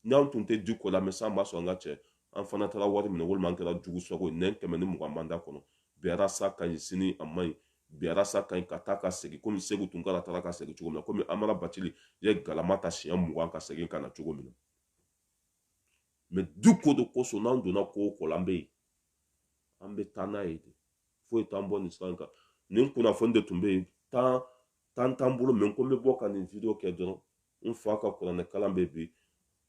n'an tun tɛ diko lamɛn san b'a sɔrɔ an ka cɛ an fana taara wari minɛ walima an kɛra jugu sogo ye nɛn kɛmɛ ni mugan b'an da kɔnɔ bi arasa ka ɲi sini a man ɲi bi arasa ka ɲi ka taa ka segin komi seku tunkara taara ka segin cogo min na komi amara batili ye galama ta siɲɛ mugan ka segin ka na cogo min na mɛ diko de kosɔn n'an donna ko o ko la an bɛ yen an bɛ taa n'a ye de foyi t'an bɔ nin sira in kan nin kunnafoni de tun bɛ yen tan tan t'an bolo mɛ ko n bɛ bɔ ka nin video kɛ dɔrɔn n fa ka kuranɛ kalan bɛ bi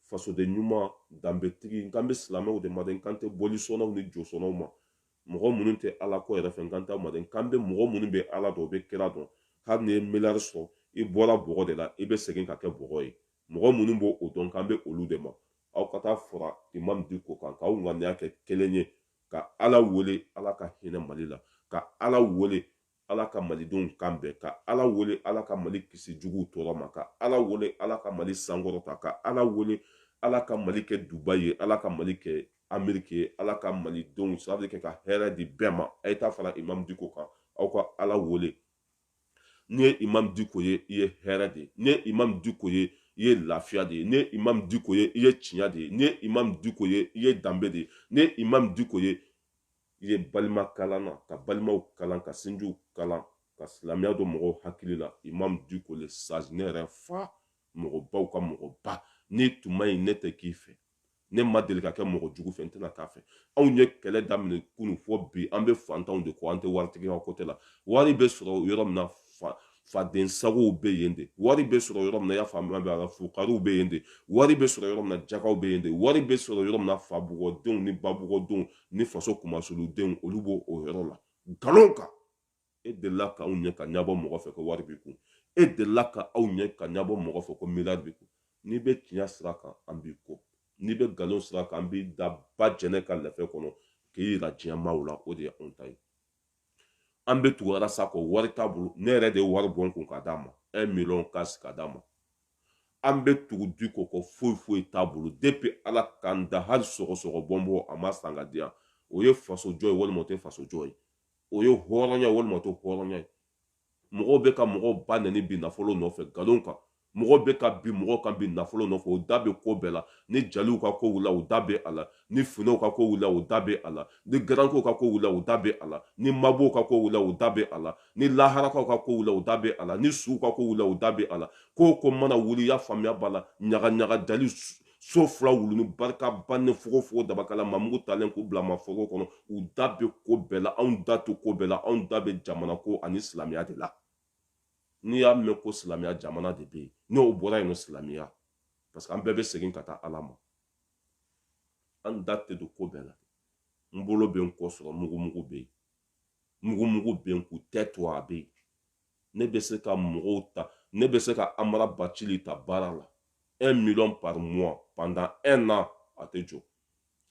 fasoden ɲuman danbetigi n kan bɛ silamɛw de ma dɛ n kan tɛ bolisɔnnaw ni josɔnnaw ma mɔgɔ minnu tɛ ala ko yɛrɛ fɛ n kan t'a ma dɛ n kan bɛ mɔgɔ minnu bɛ ala dɔn u bɛ kira dɔn hali n'i ye miliyari sɔrɔ i bɔra bɔgɔ de la i bɛ segin ka kɛ bɔgɔ ye mɔgɔ minnu b'o dɔn n kan bɛ olu de ma aw ka taa fara imam diko kan k'aw ŋaniya kɛ kelen ye ka ala wele ala ka hinɛ mali la ka ala wele ala ka malidenw kan bɛn ka ala wele ala ka mali kisi juguw tɔɔrɔ ma ka ala wele ala ka mali sankɔrɔta ka ala wele ala ka mali kɛ dubayi ye ala ka mali kɛ ameriki ye ala ka malidenw sababu kɛ ka hɛrɛ di bɛɛ ma a ye taa fara imam diko kan aw ka ala wele n'i ye imam diko ye i ye hɛrɛ de ye n'i ye imam diko ye i ye lafiya de ye n'i ye imam diko ye i ye tiɲɛ de ye n'i ye imam diko ye i ye danbe de ye n'i ye imam diko ye i ye balima kalanna ka balimaw kalan ka sinjiw kalan ka silamɛya don mɔgɔw hakili la imam diko le sage ne yɛrɛ fa mɔgɔbaw ka mɔgɔba n'i tun man ɲi ne tɛ k'i fɛ ne ma deli ka kɛ mɔgɔ jugu fɛ n tɛna k'a fɛ anw ye kɛlɛ daminɛ kunu fo bi an bɛ fantanw de kɔ an tɛ waritigi ka kote la wari bɛ sɔrɔ yɔrɔ min na faden sagow bɛ yen de wari bɛ sɔrɔ yɔrɔ min na y'a faamuya bɛ ala fugariw bɛ yen de wari bɛ sɔrɔ yɔrɔ min na jakaw bɛ yen de wari bɛ sɔrɔ yɔrɔ min na fabugɔdenw ni babugɔdenw ni faso kumasuludenw olu b'o yɔrɔ la nkalon kan e delila ka anw ye ka ɲabɔ mɔgɔ fɛ ko wari b'i kun e delila ka anw ye ka ɲabɔ mɔgɔ fɛ ko miliyari b'i kun n'i bɛ tiɲɛ sira kan an b'i kɔ n'i bɛ nkalon sira kan an b'i da ba jɛnɛ ka lɛfɛ kɔnɔ k'i yira diɲɛ maaw la o de ye anw ta ye an bɛ tugu arasa kɔ wari t'a bolo ne yɛrɛ de ye wari bɔ n kun ka d'a ma un miliyɔn kasi ka d'a ma an bɛ tugu diko kɔ foyi foyi t'a bolo depi ala k'an da hali sɔgɔsɔgɔ bɔnbɔn a ma san ka di yan o ye faso jɔ ye walima o tɛ faso jɔ ye o ye hɔrɔnya walima o tɛ hɔrɔnya ye mɔgɔw bɛ ka mɔgɔw ba nɛni bi nafolo nɔfɛ nkalon kan mɔgɔ bɛ ka bin mɔgɔ kan bi nafolo nɔfɛ o da bɛ ko bɛɛ la ni jaliw ka ko wula o da bɛ a la ni finɛw ka ko wula o da bɛ a la ni garankew ka ko wula o da bɛ a la ni mabɔw ka ko wula o da bɛ a la ni laharakaw ka ko wula o da bɛ a la ni suw ka ko wula o da bɛ a la ko o ko mana wuli y'a faamuya b'a la ɲaga ɲaga jali so fila wuluni barika bannen fogofogo dabakala mamugu talen k'u bila mafogo kɔnɔ u da bɛ ko bɛɛ la anw da tɛ ko bɛɛ la anw da bɛ jamana ko ani silamɛya de la n'i y'a mɛn ko silamɛya jamana de bɛ yen n'o bɔra yen nɔ silamɛya parce que an bɛɛ bɛ segin ka taa ala ma an da tɛ don ko bɛɛ la n bolo bɛ n kɔ sɔrɔ mugumugu bɛ yen mugumugu bɛ n k'u tɛ to a bɛ yen ne bɛ se ka mɔgɔw ta ne bɛ se ka amara bacili ta baara la un million par mois pendant un an a tɛ jɔ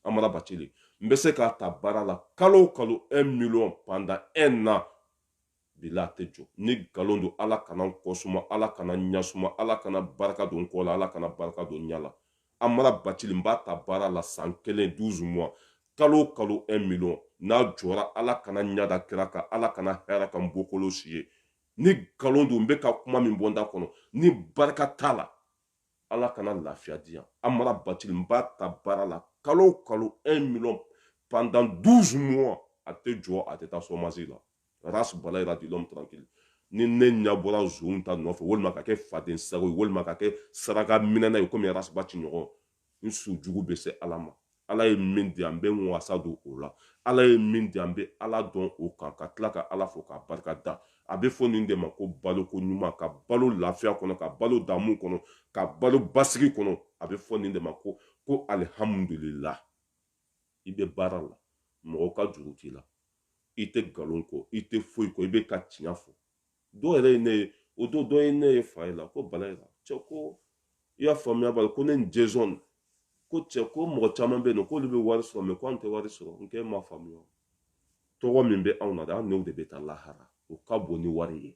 amara bacili n bɛ se k'a ta baara la kalo o kalo un million pendant un an bila a tɛ jɔ ni nkalon don ala kana n kɔ suma ala kana n ɲa suma ala kana barika don n kɔ la ala kana barika don n ɲa la amara bacili n b'a ta baara la san kelen 12 mois kalo o kalo 1 million n'a jɔra ala kana n ɲa da kira kan ala kana hɛra kɛ n bɔkolo si ye ni nkalon don n bɛ ka kuma min bɔ n da kɔnɔ ni barika t'a la ala kana lafiya di yan amara bacili n b'a ta baara la kalo o kalo 1 million pendant 12 mois a tɛ jɔ a tɛ taa chômage la ras bala ira dit l'homme tranquille ni ne ɲa bɔra zonw ta nɔfɛ walima ka kɛ faden sago ye walima ka kɛ saraka minɛna ye komi ras baci ɲɔgɔn n su jugu bɛ se ala ma ala ye min di an b'an wasa don o la ala ye min di an bɛ ala dɔn o kan ka tila ka ala fo k'a barika da a bɛ fɔ nin de ma ko baloko ɲuman ka balo lafiya kɔnɔ ka balo damu kɔnɔ ka balo basigi kɔnɔ a bɛ fɔ nin de ma ko ko alihamudulila i bɛ baara la mɔgɔw ka juru t'i la i tɛ nkalon kɔ i tɛ foyi kɔ i bɛ ka tiɲɛ fɔ dɔw yɛrɛ ye ne ye o don dɔ ye ne ye fa ye la ko bala ye la cɛ ko i y'a faamuya bali ko ne ni jezɔn ko cɛ ko mɔgɔ caman bɛ yen nɔ k'olu bɛ wari sɔrɔ mɛ ko an tɛ wari sɔrɔ n k'e ma faamuya tɔgɔ min bɛ anw na dɛ an n'o de bɛ taa lahara o ka bon ni wari ye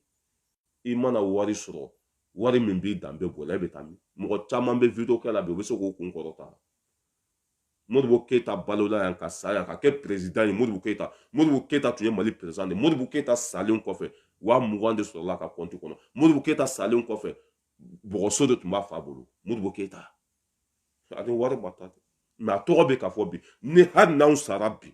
i mana wari sɔrɔ wari min b'i danbe bɔ i la e bɛ taa min mɔgɔ caman bɛ video kɛ la bi u bɛ se k'o kun kɔrɔta modibo keyita balola yan ka sa yan ka kɛ perezidan ye modibo keyita modibo keyita tun ye mali perezidan de modibo keyita salen kɔfɛ waa mugan de sɔrɔla a ka kɔnti kɔnɔ modibo keyita salen kɔfɛ bɔgɔso de tun b'a fa bolo modibo keyita a ni wari ma taa mɛ a tɔgɔ bɛ ka fɔ bi ni hali n'anw sara bi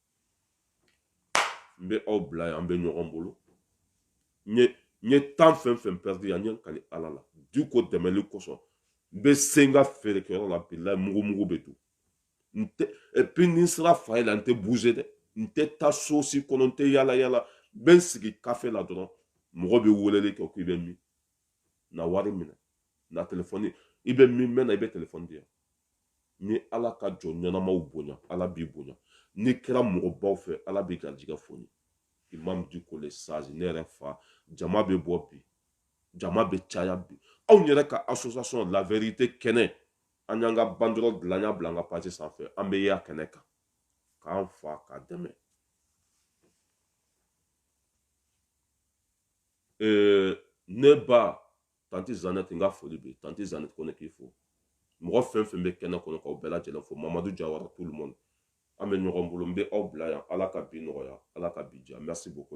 n bɛ aw bila yan an bɛ ɲɔgɔn bolo n ye temps fɛn fɛn perdu yan n ye n kali ala la diko dɛmɛli kosɔn n bɛ se n ka feerekɛyɔrɔ la bilayi mugu mugu bɛ dun n tɛ et puis ni n sera fa ye la n tɛ bouger dɛ n tɛ taa so si kɔnɔ n tɛ yala yala n bɛ n sigi kafe la dɔrɔn mɔgɔ bɛ weleli kɛ k'i bɛ min na wari minɛ na telefɔni i bɛ min mɛn na i bɛ telefɔni di yan ni ala ka jɔn ɲɛnamaw bonya ala b'i bonya n'i kɛra mɔgɔbaw fɛ ala b'i garijigɛ foni imam diko le sage ne yɛrɛ fa jama bɛ bɔ bi jama bɛ caya bi anw yɛrɛ ka association la vérité kɛnɛ an y'an ka banderole dilan y'a bila an ka page sanfɛ an bɛ yan kɛnɛ kan k'an fa k'a dɛmɛ ee ne ba tanti zanɛti n ka foli bɛ tanti zanɛti ko ne k'i fo mɔgɔ fɛn fɛn bɛ kɛnɛ kɔnɔ k'aw bɛɛ lajɛlen fo mamadu jawara tout le monde an bɛ ɲɔgɔn bolo n bɛ aw bila yan ala ka bi nɔgɔya ala ka bi diya merci beaucoup la